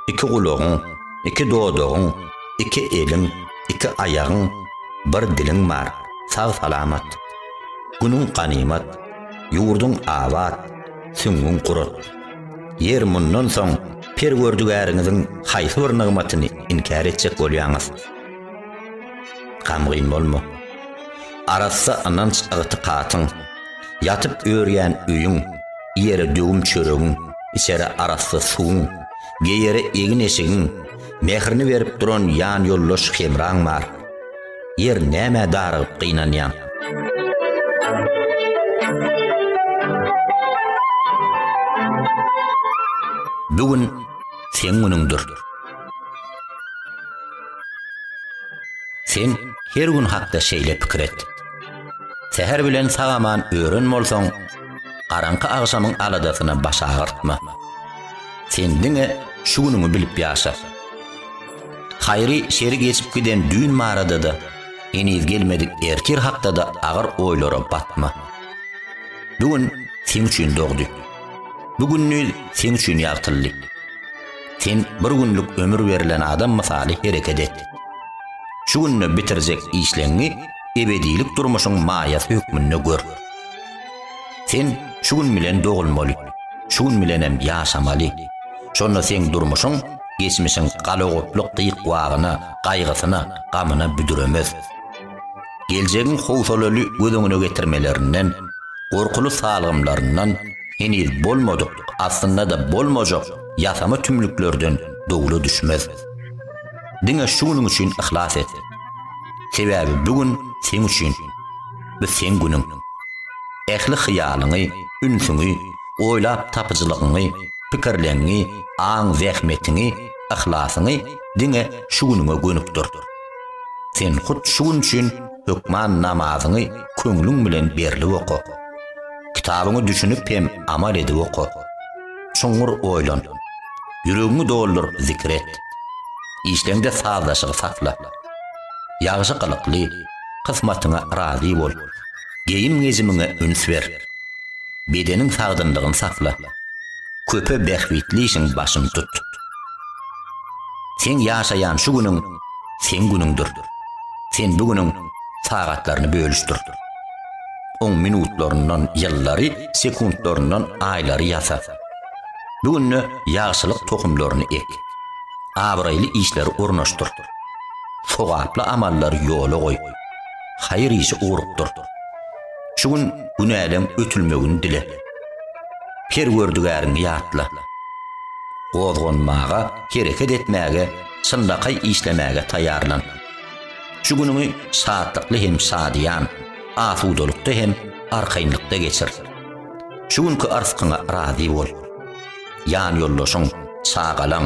iki gulagyň, iki dodagyň, iki eliň, iki aýagyň, bir diliň bar. Sag-salamat. Günüň ganymat. Ýurduň abat. Süňňüň gurat. Ýer mundan soň Perwerdigäriňiziň haýsy bir nygmatyny inkär etjek bolýaňyz? Gamgyn bolma. Arassa ynanç-ygtykatyň, Ýatyp örýän öýüň, iýere döwüm çöregiň, içere arassa suwuň, geýere egin-eşigiň, mährini berip duran ýanýoldaş hemraň bar. Ýer, nämä darygyp gynanýaň? Bu gün seň günüňdir. Sen her gün hakda şeýle pikir et. Säher bilen sag-aman ören bolsaň, garaňky agşamyň aladasyna baş agyrtma. Sen diňe şu günüňi bilip ýaşa. Haýry şeri geçip giden düýn barada-da, heniz gelmedik ertir hakda-da agyr oýlara batma. Bu gün sen üçin dogdy. Bu gününiz sen üçin ýagtyldy. Sen bir günlük ömür berlen adam mysaly hereket et. Şu günde bitirjek işleňi ebedilik durmuşyň maýasy hökmünde gör. Sen şu gün bilen dogulmaly, şu gün bilen hem ýaşamaly. Şonda seň durmuşyň geçmişiň galagoplyk gyk-wagyna, gaýgysyna, gamyna büdremez. Geljegiň howsalaly göz öňüne getirmelerinden, gorkuly salgymlaryndan, heniz bolmadyk, aslynda-da bolmajak ýasama tümlüklerden dowla düşmez. Diňe şu günüň üçin yhlas et. Sebäbi bu gün seň üçin. Bu seň günüň. Ähli hyýalyňy, ünsüňi, oýlap tapyjylygyňy, pikirleňňi, aň-zähmetiňi, yhlasyňy diňe şu günüňe gönükdir. Sen hut şu gün üçin hökman namazyňy köňlüň bilen berlip oka. Kitabyňy düşünip hem amal edip oka. Çuňňur oýlan. Ýüregiňi doldur, zikir et. Işleňde sazlaşygy sakla. Ýagşy gylykly, kysmatyňa razy bol. Geýim-gejimiňe üns ber. Bedeniň sagdynlygyny sakla. Köpe bähbitli işiň başyny tut. Seň ýaşaýan şu günüň seň günüňdir. Sen bu günüň sagatlaryny bölüşdir. Oň minutlaryndan ýyllary, sekuntlaryndan aýlary ýasa. Bu günde ýagşylyk tohumlaryny ek. Abraýly işleri ornaşdyr. Sogaply amallary ýola goý. Haýyr işi ugrukdyr. Şu gün günäleň ötülmegini dile. Perwerdigäriňi ýatla. Gozganmaga, hereket etmäge, çynlakaý işlemäge taýýarlan. Şu günüňi şatlykly hem şadyýan, asudalykda hem arkaýynlykda geçir. Şu günki arzkyňa razy bol. Ýanýoldaşyň, çagalaň,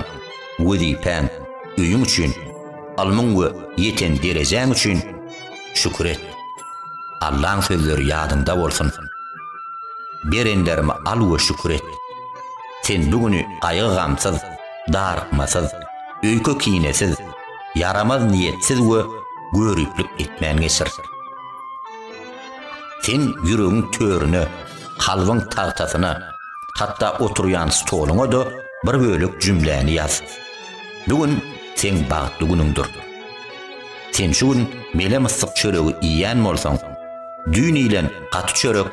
wezipäň, öýüň üçin, ylmyň we ýeten derejäň üçin şükür et. Allaň sözleri ýadyňda bolsun. Berenlerimi al we şükür et. Sen bu güni gaýgy-gamsyz, darykmasyz, öýke-kinesiz, ýaramaz niýetsiz we göriplik etmän geçir. Sen ýüregiň törüne, kalbyň tagtasyna, hatda oturýan stoluňa-da bir bölek jümläni ýaz. Bu gün seň bagtly günüňdir. Sen şu gün mele-myssyk çöregi iýen bolsaň, düýn iýlen gaty çörek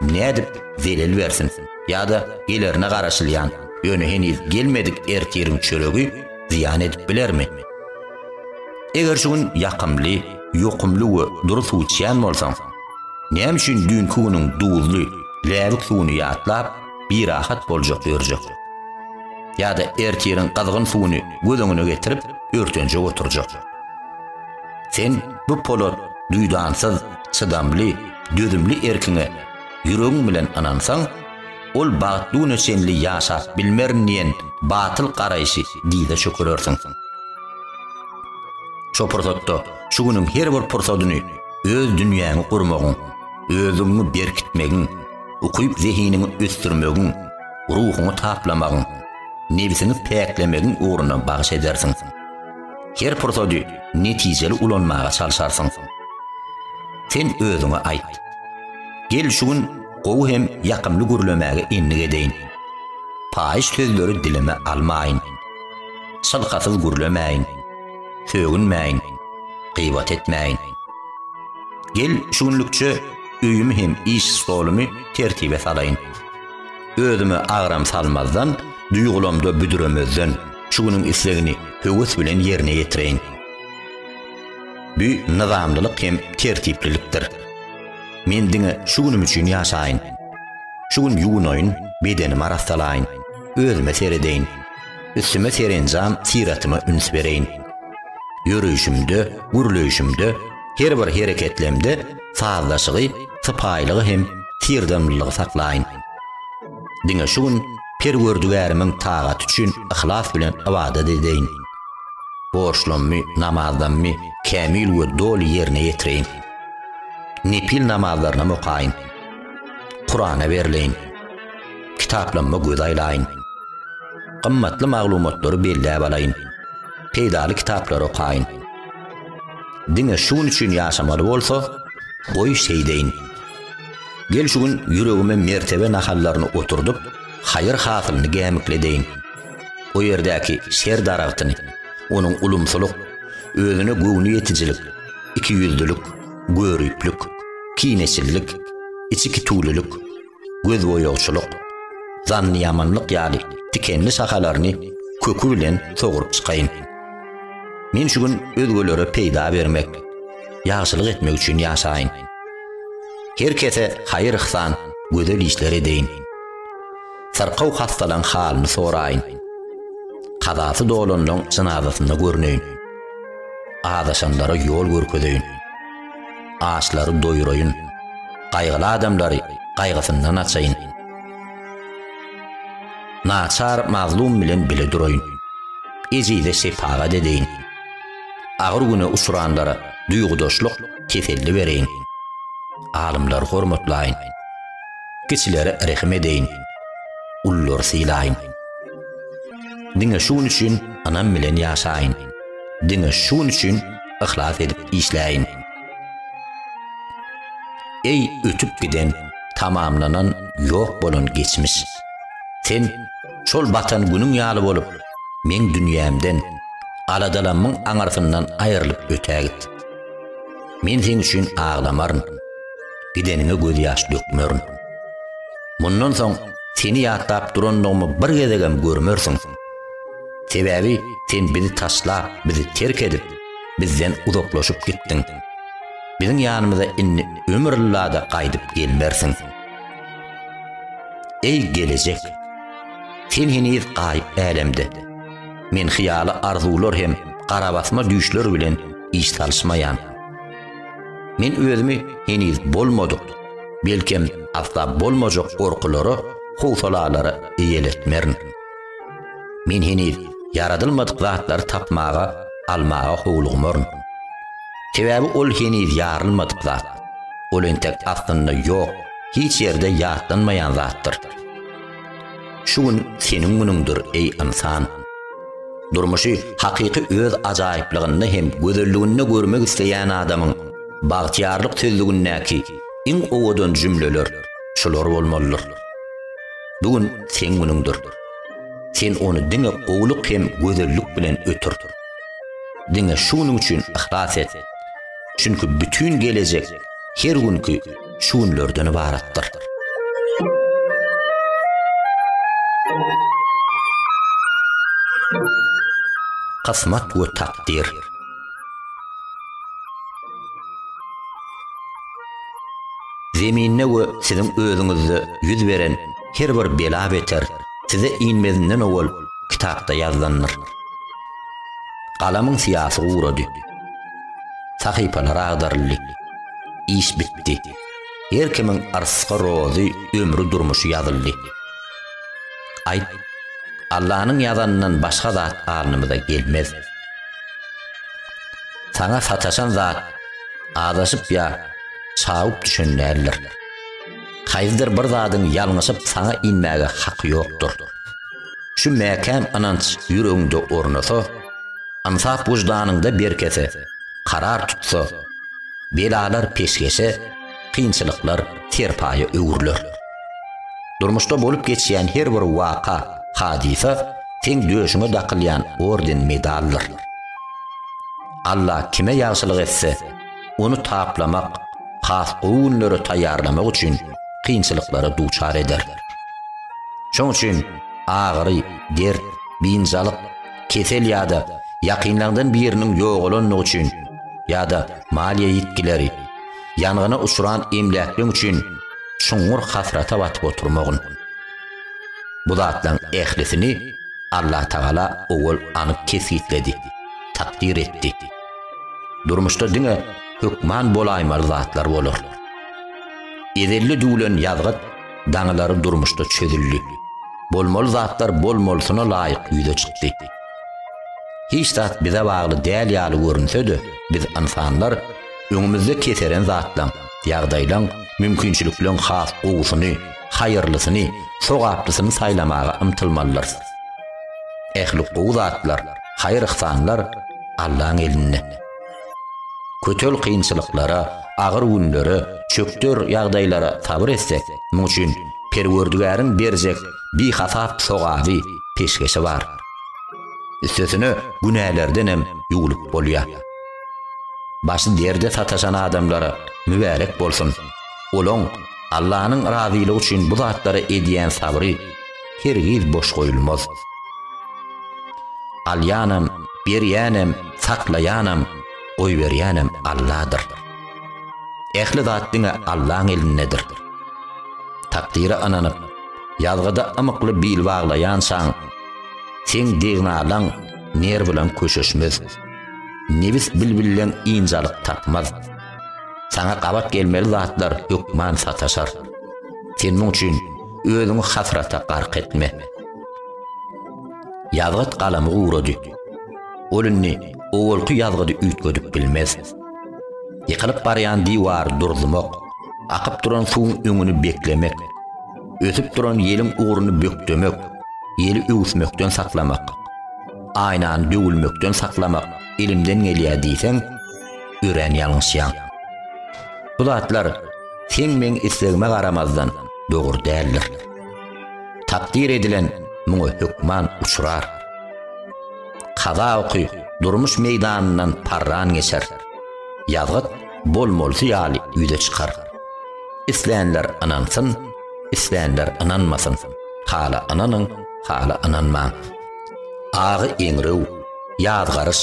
nädip zelel bersin ýa-da gelerine garaşylýan, ýöne heniz gelmedik ertiriň çöregi zyýan edip bilermi? Eger şu gün ýakymly, ýokumly we dury suw içýän bolsaň, näme üçin düýnki günüň duzly, läbik suwuny ýatlap, birahat boljak ýörjek? Ýa-da ertiriň gyzgyn suwuny göz öňüne getirip, örtenjek oturjak? Sen bu polat, duýdansyz, çydamly, dözümli erkiňe ýüregiň bilen ynansaň, ol bagtduna çenli ýaşap bilmerin diýen batyl garaýşy dyza çökerersiň. Şo pursatda şu günüň her bir pursadyny öz dünýäňi gurmagyň, özüňi berkitmegiň, ukyp-zehiniňi ösdürmegiň, ruhuňy taplamagyň, nebsiňi päklemegiň ugruna bagyş edersiň. Her pursady netijeli ulanmaga çalşarsyň. Sen özüňe aýt. Gel şu gün Gowy hem ýakymly gürlemäge endik edeýin. Paýyş sözleri dilime almaýyn. Çylkasyz gürlemäýin. Sögünmäýin. Gybat etmäýin. Gel, şu günlükçe öýümi hem iş stolumy tertibe salaýyn. Özüme agram salmazdan, duýgulamda büdremezden, şu günüň islegini höwes bilen ýerine ýetireýin. Bu nyzamlylyk hem tertiplilikdir. Men diňe şu günüm üçin ýaşaýyn. Şu gün ýuwunaýyn, bedenimi arassalaýyn, özüme seredeýin. Üstüme serenjam syratyma üns bereýin. Ýöreýşimde, gürleýşimde, her bir hereketlemde sazlaşygy, sypaýylygy hem syrdamlylygy saklaýyn. Diňe şu gün Perwerdigärimiň tagaty üçin yhlas bilen ybadat edeýin. Borçlamy, namazdamy kämil we doly ýerine ýetireýin. Nepil namazlarynam okaýyn. Kurana berleýin. Kitaplamma göz aýlaýyn. Gymmatly maglumatlary belläp alaýyn. Peýdaly kitaplary okaýyn. Diňe şu gün üçin ýaşamaly bolsa, goý şeýdeýin. Gel şu gün ýüregime mertebe nahallaryny oturdyp, haýyr hasylyny gämikledeýin. O ýerdäki şer daragtyny, onuň ulumsylyk, özüne göwniýetijilik, ikiýüzlülik, göriplik, kineçillik, içikitulilk, gözboýagçylyk, zannyýamanlyk ýaly tikenli şahalaryny köki bilen soguryp çykaýyn. Men şu gün özgelere peýda bermek, ýagşylyk etmek üçin ýaşaýyn. Her kese haýyr-yhsan, gözel işler edeýin. Syrkaw hassalaň halyny soraýyn. Kazasy dolanlaň jynazasyna görneýin. Azaşanlara ýol görkezeýin. Açlary doýuraýyn. Gaýgyly adamlary gaýgysyndan açaýyn. Naçar mazlum bilen bile duraýyn. Ejize şepagat edeýin. Agyr güne uçranlara duýgudaşlyk, teselli bereýin. Alymlary hormatlaýyn. Kiçilere rehim edeýin. Ullary sylaýyn. Diňe şu gün üçin ynam bilen ýaşaýyn. Diňe şu gün üçin yhlas edip işläýin. Eý, ötüp giden, tamamlanan, ýok bolan geçmiş! Sen şol batan günüň ýaly bolup, meň dünýämden, aladalanmyň aňyrsyndan aýrylyp ötägit. Men seň üçin aglamaryn. gideniňe gözýaş dökmerin. Mundan soň seni ýatlap durandygymy bir gezegem görmersiň. Sebäbi sen bizi taşlap, bizi terk edip, bizden uzaklaşyp gitdiň. Biziň ýanymyza indi ömür ylla-da gaýdyp gelmersiň. Eý, gelejek! Sen heniz gaýyp älemde. Men hyýaly arzuwlar hem garabasma düýşler bilen iş salyşmaýan. Men özümi heniz bolmadyk, belkem asla bolmajak gorkulara, howsalalara eýeletmerin. Men heniz ýaradylmadyk zatlary tapmaga, almaga howlugmaryn. Sebäbi ol heniz ýarylmadyk zat. Ol entek aslynda ýok, hiç ýerde ýatlanmaýan zatdyr. Şu gün seniň günüňdir, eý ynsan! Durmuşy hakyky öz ajaýyplygynda hem gözelliginde görmek isleýän adamyň bagtyýarlyk sözlügindäki iň owadan jümleler şular bolmalydyr. Bu gün seň günüňdir. Sen ony diňe gowulyk hem gözellik bilen ötür. Diňe şu günüň üçin yhlas et. Çünki bütin gelejek her günki şu günlerden ybaratdyr. Kysmat we takdir. Zeminde we siziň özüňizde ýüz beren her bir bela beter size inmezinden owal kitapda ýazlandyr. Galamyň syýasy gurady. Sahypalar agdaryldy. Iş bitdi. Her kimiň arsga rozy ömri durmuşy ýazyldy. Aýt, Allanyň ýazanyndan başga zat alnymyza gelmez. Saňa sataşan zat azaşyp ýa çawup düşen däldir. Haýsydyr bir zadyň ýalňyşyp saňa inmäge haky ýokdur. Şu mäkäm ynanç ýüregiňde ornasa, ynsap wyždanyňda berkese, karar tutsa, belalar peşgeşe, kynçylyklar serpaýa öwrüler. Durmuşda bolup geçýän her bir waka, hadysa seň döşüňe dakylýan orden-medaldyr. Alla kime ýagşylyk etse, ony taplamak, has gowy günlere taýýarlamak üçin kynçylyklara duçar eder. Şonuň üçin agyry, dert, biynjalyk, kesel ýa-da ýakynlaňdan biriniň ýogalandygy üçin ýa-da maliýe ýitgileri, ýangyna uçran emläkleň üçin çuňňur hasrata batyp oturmagyn. Bu zatlaryň ählisini Allatagala owal anyk kesgitledi, takdyr etdi. Durmuşda diňe hökman bolaýmaly zatlar bolar. Ezelli düwlen ýazgyt daňylary durmuşda çözüldi. Bolmaly zatlar bolmalysyna laýyk ýüze çykdy. Hiç zat bize bagly däl ýaly görünse-de, biz ynsanlar öňümizde keseren zatlaň, ýagdaýlaň, mümkinçilikleriň has gowusyny, haýyrlysyny, sogaplysyny saýlamaga ymtylmalydyrys. Ähli gowy zatlar Haýyr-yhsanlar Allaň elinde. Kötel kynçylyklara, agyr günlere, çökder ýagdaýlara sabyr etsek, muň üçin Perwerdigäriň berjek bihasap sogaby, peşgeşi bar. Üstesine günälerdenem ýuwlup bolýar. Başy derde sataşan adamlara mübärek bolsun! Olaň Allanyň razylygy üçin bu zatlara edýän sabry hergiz boş goýulmaz. Alýanam, berýänem, saklaýanam, goýberýänem Alladyr. Ähli zat diňe Allaň elindedir. Takdyra ynanyp, ýazgyda ymykly bil baglaýançaň, seň degnalaň ner bilen köşeşmez. Nebis bilbilleň ynjalyk tapmaz. Saňa gabat gelmeli zatlar hökman sataşar. Sen muň üçin Özüňi hasrata gark etme. Ýazgyt galamy gurady. Ol indi owalky ýazgydy üýtgedip bilmez. Ýykylyp barýan diwary durzumak, akyp duran suwuň öňüni beklemek, ösüp duran ýeliň ugruny bökdemek, ýeli öwüsmekden saklamak, aýnany döwülmekden saklamak elimden gelýär diýseň, örän ýalňyşýaň. Bu zatlar seň meň islegime garamazdan, dogry däldir. Takdyr edilen muňa hökman uçrar. Kaza oky durmuş meýdanyndan parran geçer. Ýazgyt bolmalysy ýaly ýüze çykar. Islänler ynansyn, islänler ynanmasyn. Hala ynanyň, hala ynanmaň. Agy eňrew, ýazgaryş,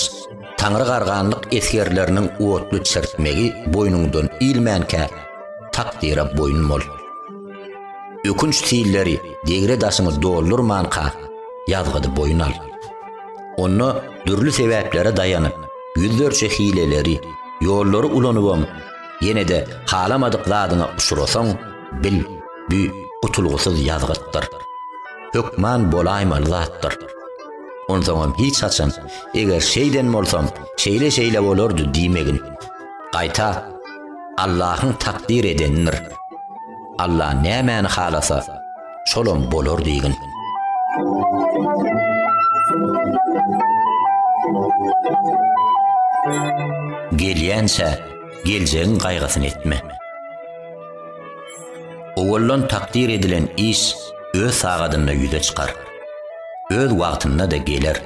taňry garganlyk esgerleriniň otly çirtmegi boýnuňdan ilmänkä, Takdyra boýun bol. Ökünç silleri degre daşyňy doldurmanka, ýazgydy boýun al. Onda dürli sebäplere daýanyp, ýüzlerçe hileleri, ýollary ulanybam, ýene-de halamadyk zadyňa uçrasaň, bil, bu gutulgysyz ýazgytdyr. Hökman bolaýmaly zatdyr. Onsoňam hiç haçan, Eger şeýden bolsam, şeýle-şeýle bolardy diýmegin. Gaýta, Allahyň takdyr edenidir. Alla nämäni halasa, şolam bolar diýgin. Gelýänçä, geljegiň gaýgysyny etme. Owaldan takdyr edilen iş öz sagadynda ýüze çykar. Öz wagtynda-da geler.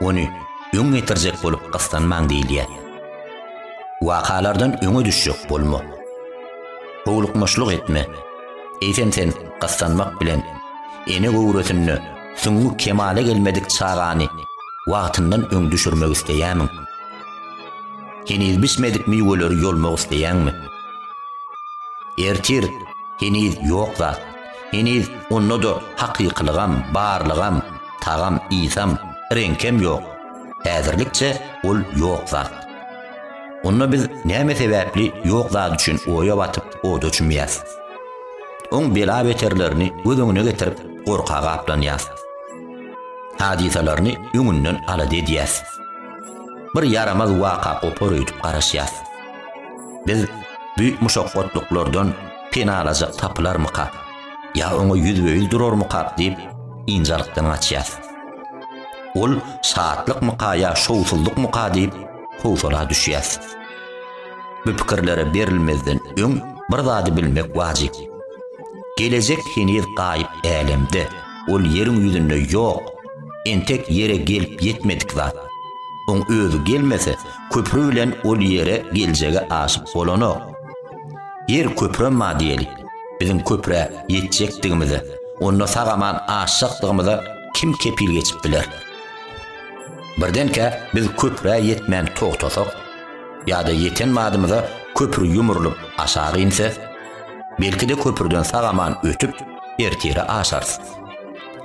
Ony öň getirjek bolup gyssanmaň diýilýär. Wakalardan öňe düşjek bolma. Howlukmaçlyk etme. Eýsem sen gyssanmak bilen ene göwresinde süňňi kemala gelmedik çagany wagtyndan öň düşürmek isleýämiň? Heniz bişmedik miweleri ýolmak isleýäňmi? Ertir heniz ýok zat, heniz onda-da hakykylygam, barlygam, tagam-ysam, reňkem ýok. Häzirlikçe ol ýok zat. Onda biz näme sebäpli ýok zat üçin oýa batyp, oda çümýäs? Oň bela-beterlerini göz öňüne getirip, gorka gaplanýas. Hadysalaryny öňünden alada edýäs. Bir ýaramaz waka gopar öýdüp garaşýas. Biz bu muşakgatlyklardan penalajak tapylarmyka? Ýa oňa ýüzbe-ýüz durarmykak diýip, ynjalykdan gaçýas. Ol şatlykmyka ýa şowsuzlykmyka diýip, howsala düşýäs. Bu pikirlere berilmezden öň bir zady bilmek wajyp. Gelejek heniz gaýyp älemde, ol ýeriň ýüzünde ýok, entek ýere gelip ýetmedik zat. Oň özi gelmese, köpri bilen ol ýere geljegi aşyp bolanok. Ýer köpremma diýeli. Biziň köprä ýetjekdigimize, onda sag-aman aşjakdygymyza kim kepil geçip biler? Birdenkä biz köprä ýetmän togtasak, ýa-da ýeten badymyza köpri ýumrulyp aşak inse, belki-de köprüden sag-aman ötüp, ertire aşarys.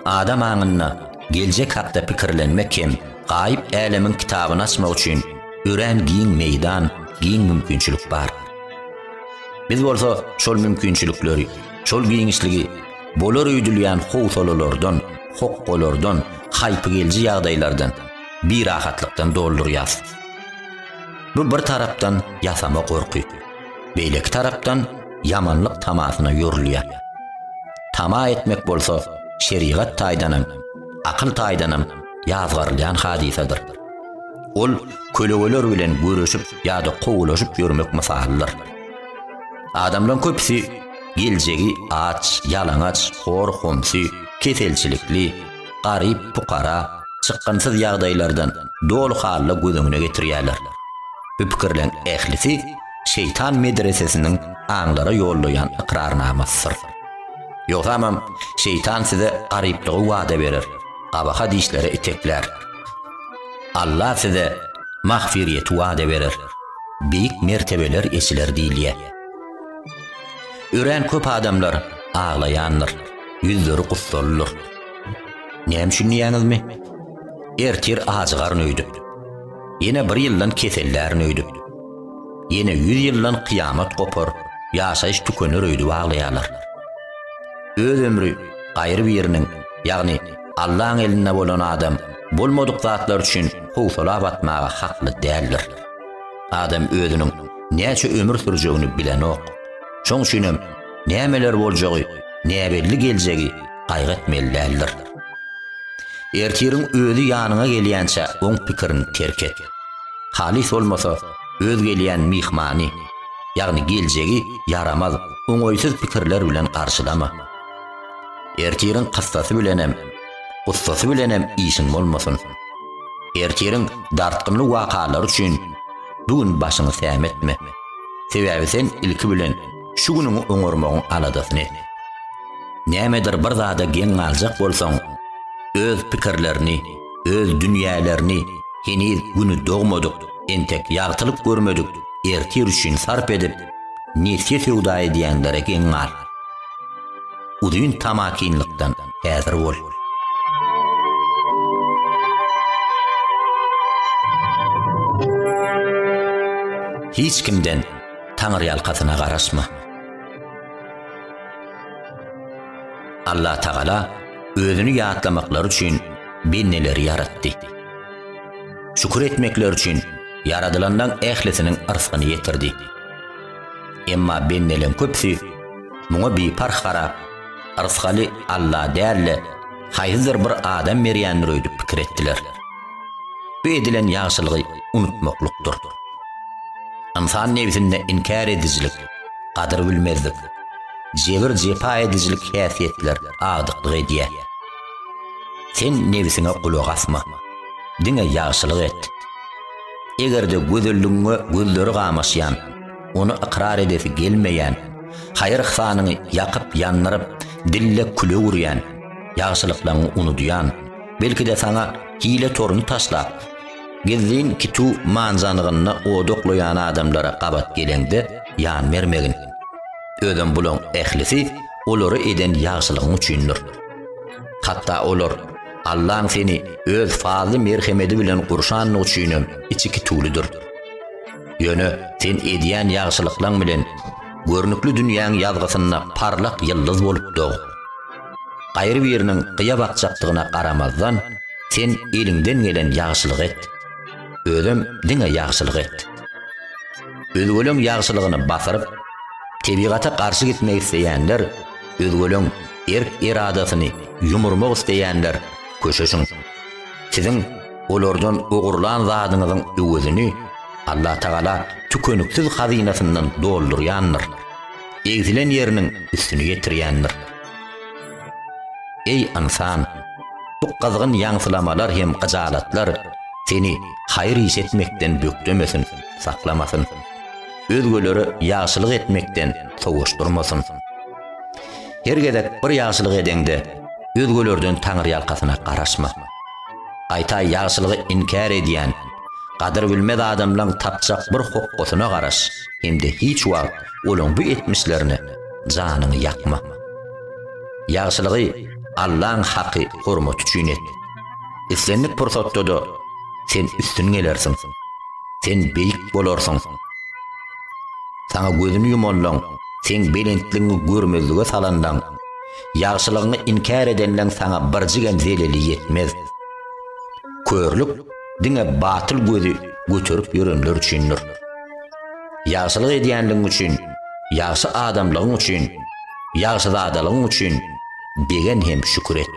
Adam aňynda geljek hakda pikirlenmek hem gaýyp älemiň kitabyny açmak üçin örän giň meýdan, giň mümkinçilik bar. Biz bolsa şol mümkinçilikleri, şol giňişligi bolar öýdülýän howsalalardan, hokgalardan, haýpygelji ýagdaýlardan, birahatlykdan doldurýas. Bu bir tarapdan ýasama gorky, beýleki tarapdan ýamanlyk tamasyna ýorulýar. Tama etmek bolsa şerigat taýdanam, akyl taýdanam ýazgarylýan hadysadyr. Ol kölegeler bilen göreşip ýa-da kowulaşyp ýörmek mysalydyr. Adamlaryň köpüsi geljegi aç, ýalaňaç, hor-homsy, keselçilikli, garyp-pukara, çykgynsyz ýagdaýlardan doly halda göz öňüne getirýärler. Bu pikirleriň ählisi Şeýtan medresesiniň aňlara ýollaýan ykrarnamasydyr. Ýogsamam, Şeýtan size garyplygy wada berer. Gabaha dişlere iteklär. Alla size magfyryýeti wada berer, beýik mertebeler eçiler diýilýär. Örän köp adamlar aglaýandyr, ýüzleri gussalydyr. Näme üçin diýýäňizmi? Ertir ajygaryn öýdüp, ýene bir ýyldan kesellärin öýdüp, ýene ýüz ýyldan kyýamat gopar, ýaşaýyş tükener öýdüp aglaýarlar. Öz ömri gaýry biriniň, ýagny Allaň elinde bolan adam bolmadyk zatlar üçin howsala batmaga hakly däldir. Adam özüniň näçe ömür sürjegini bilenok. Şoň üçinem nämeler boljagy näbelli geljegi gaýgy etmeli däldir. Ertiriň özi ýanyňa gelýänçä oň pikirini terk et. Halys bolmasa öz gelýän myhmany, ýagny geljegi ýaramaz, oňaýsyz pikirler bilen garşylama. Ertiriň kyssasy bilenem, gussasy bilenem işiň bolmasyn. Ertiriň dartgynly wakalary üçin bu gün başyňy sämetme. Sebäbi sen ilki bilen şu günüňi oňarmagyň aladasyny et. Nämedir bir zada geň galjak bolsaň, öz pikirlerini, öz dünýälerini heniz güni dogmadyk, entek ýagtylyk görmedik ertir üçin sarp edip, nesge söwda edýänlere geň gal. Uzyn tamakinlikden häzir bol. Hiç kimden taňyrýalkasyna garaşma. Allatagala özüni ýatlamaklary üçin bendeleri ýaratdy. Şükür etmekleri üçin ýaradylanlaň ählisiniň yrsgyny ýetirdi. Emma bendeleň köpüsi muňa biparh garap, yrsgaly Alla däl-de, haýsydyr bir adam berýändir öýdüp pikir etdiler. Bu edilen ýagşylygy unutmaklykdyr. Ynsan nebsinde inkär edijilik, gadyr bilmezlik, jebir-jepa edijilik häsiýetler agdyklyk edýär. Sen nebsiňe gulak asma, diňe ýagşylyk et. Eger-de gözelligiňe gözleri gamaşýan, ony ykrar edesi gelmeýän, haýyr-yhsanyňy ýakyp-ýandyryp, dille küleg urýan, ýagşylyklaryňy unudýan, belki-de saňa hile toruny taşlap, Gizlin kituw manzanygynda oda oklaýan adamlara gabat geleňde ýan bermegin. Özem bulaň ählisi olara eden ýagşylygyň üçindir. Hatda olar Allaň seni öz fazly merhemedi bilen gurşandygy üçinem içi kituwlydyr. Ýöne sen edýän ýagşylyklaň bilen görnükli dünýäň ýazgysynda parlak ýyldyz bolup dog. Gaýry biriniň gyýa bakjakdygyna garamazdan, sen eliňden gelen ýagşylygy et. Özem diňe ýagşylyk et. Özgeleň ýagşylygyny basyryp, tebigata garşy gitmek isleýänler, özgeleň erk-eradasyny ýumurmak isleýänler köşeşiň. Siziň olardan ogurlan zadyňyzyň öwezini Allatagala tükeniksiz hazynasyndan doldurýandyr. egzilen ýeriniň üstüni ýetirýändir. Eý, ynsan! Bu gyzgyn ýaňsylamalar hem gyjalatlar seni haýyr iş etmekden bökdemesin, saklamasyn. Özgelere ýagşylyk etmekden sowuşdyrmasyn. Her gezek bir ýagşylyk edeňde, özgelerden taňryýalkasyna garaşma. Gaýta ýagşylygy inkär edýän, gadyrbilmez adamlaň tapjak bir hokgasyna garaş hem-de hiç wagt Olaň bu etmişlerine janyňy ýakma. Ýagşylygy Allaň haky hormaty üçin et. Islendik pursatda-da sen üstün gelersiň. Sen beýik bolarsyň. Saňa gözüni ýumanlaň, seň belentligiňi görmezlige salanlaň, ýagşylygyňy inkär edenleň saňa birjigem zeleli ýetmez. Körlük diňe batyl gözi göterip ýörenler üçindir. Ýagşylyk edýänligiň üçin, ýagşy adamlygyň üçin, ýagşyzadalygyň üçin degen hem şükür et.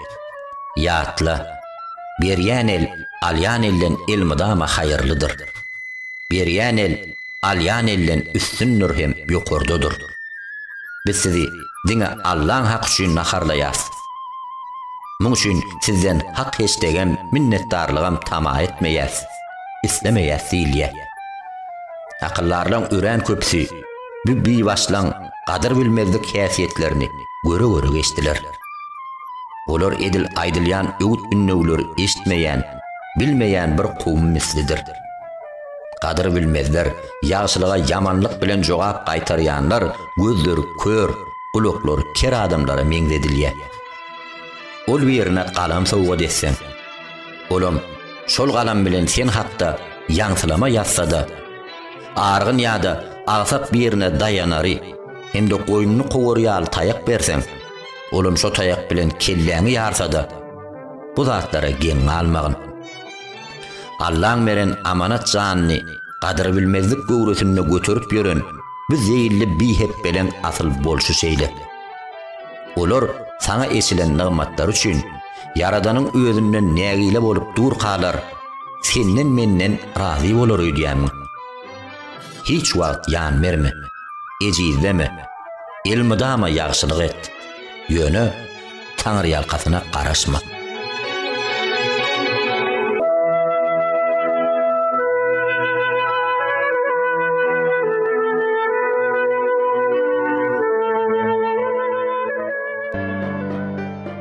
Ýatla, Berýän el, alýan elden elmydama haýyrlydyr. Berýän el, alýan elden üstündir hem ýokardadyr. Biz sizi diňe Allaň haky üçin naharlaýas. Muň üçin sizden hak-heşdegem, minnetdarlygam tama etmeýäs. islemeýär Silýa. Akyldarlaň örän köpüsi bu bibaşlaň gadyr bilmezlik häsiýetlerini göre-göre geçdiler. Olar edil aýdylýan öwüt-ündewleri eşitmeýän, bilmeýän bir kowum mislidir. Gadyr bilmezler, ýagşylyga ýamanlyk bilen jogap gaýtarýanlar gözleri kör, gulaklary ker adamlara meňzedilýär. Ol birine galam sowgat etseň. Olam şol galam bilen sen hakda ýaňsylama ýazsa-da, argyn ýa-da agsap birine daýanary hem-de goýnuny kowary ýaly taýak berseň, olam şo taýak bilen kelläňi ýarsa-da, bu zatlara geň galmagyn. Allaň beren amanat janyny gadyrbilmezlik göwresinde göterip ýören bu zeýilli bihepbeleň asyl bolşy şeýle. Olar saňa eçilen nygmatlary üçin Ýaradanyň özünden nägile bolup durkalar, senden-menden razy bolar öýdýänmiň? Hiç wagt ýan berme, ejizleme, elmydama ýagşylyk et, ýöne taňryýalkasyna garaşma.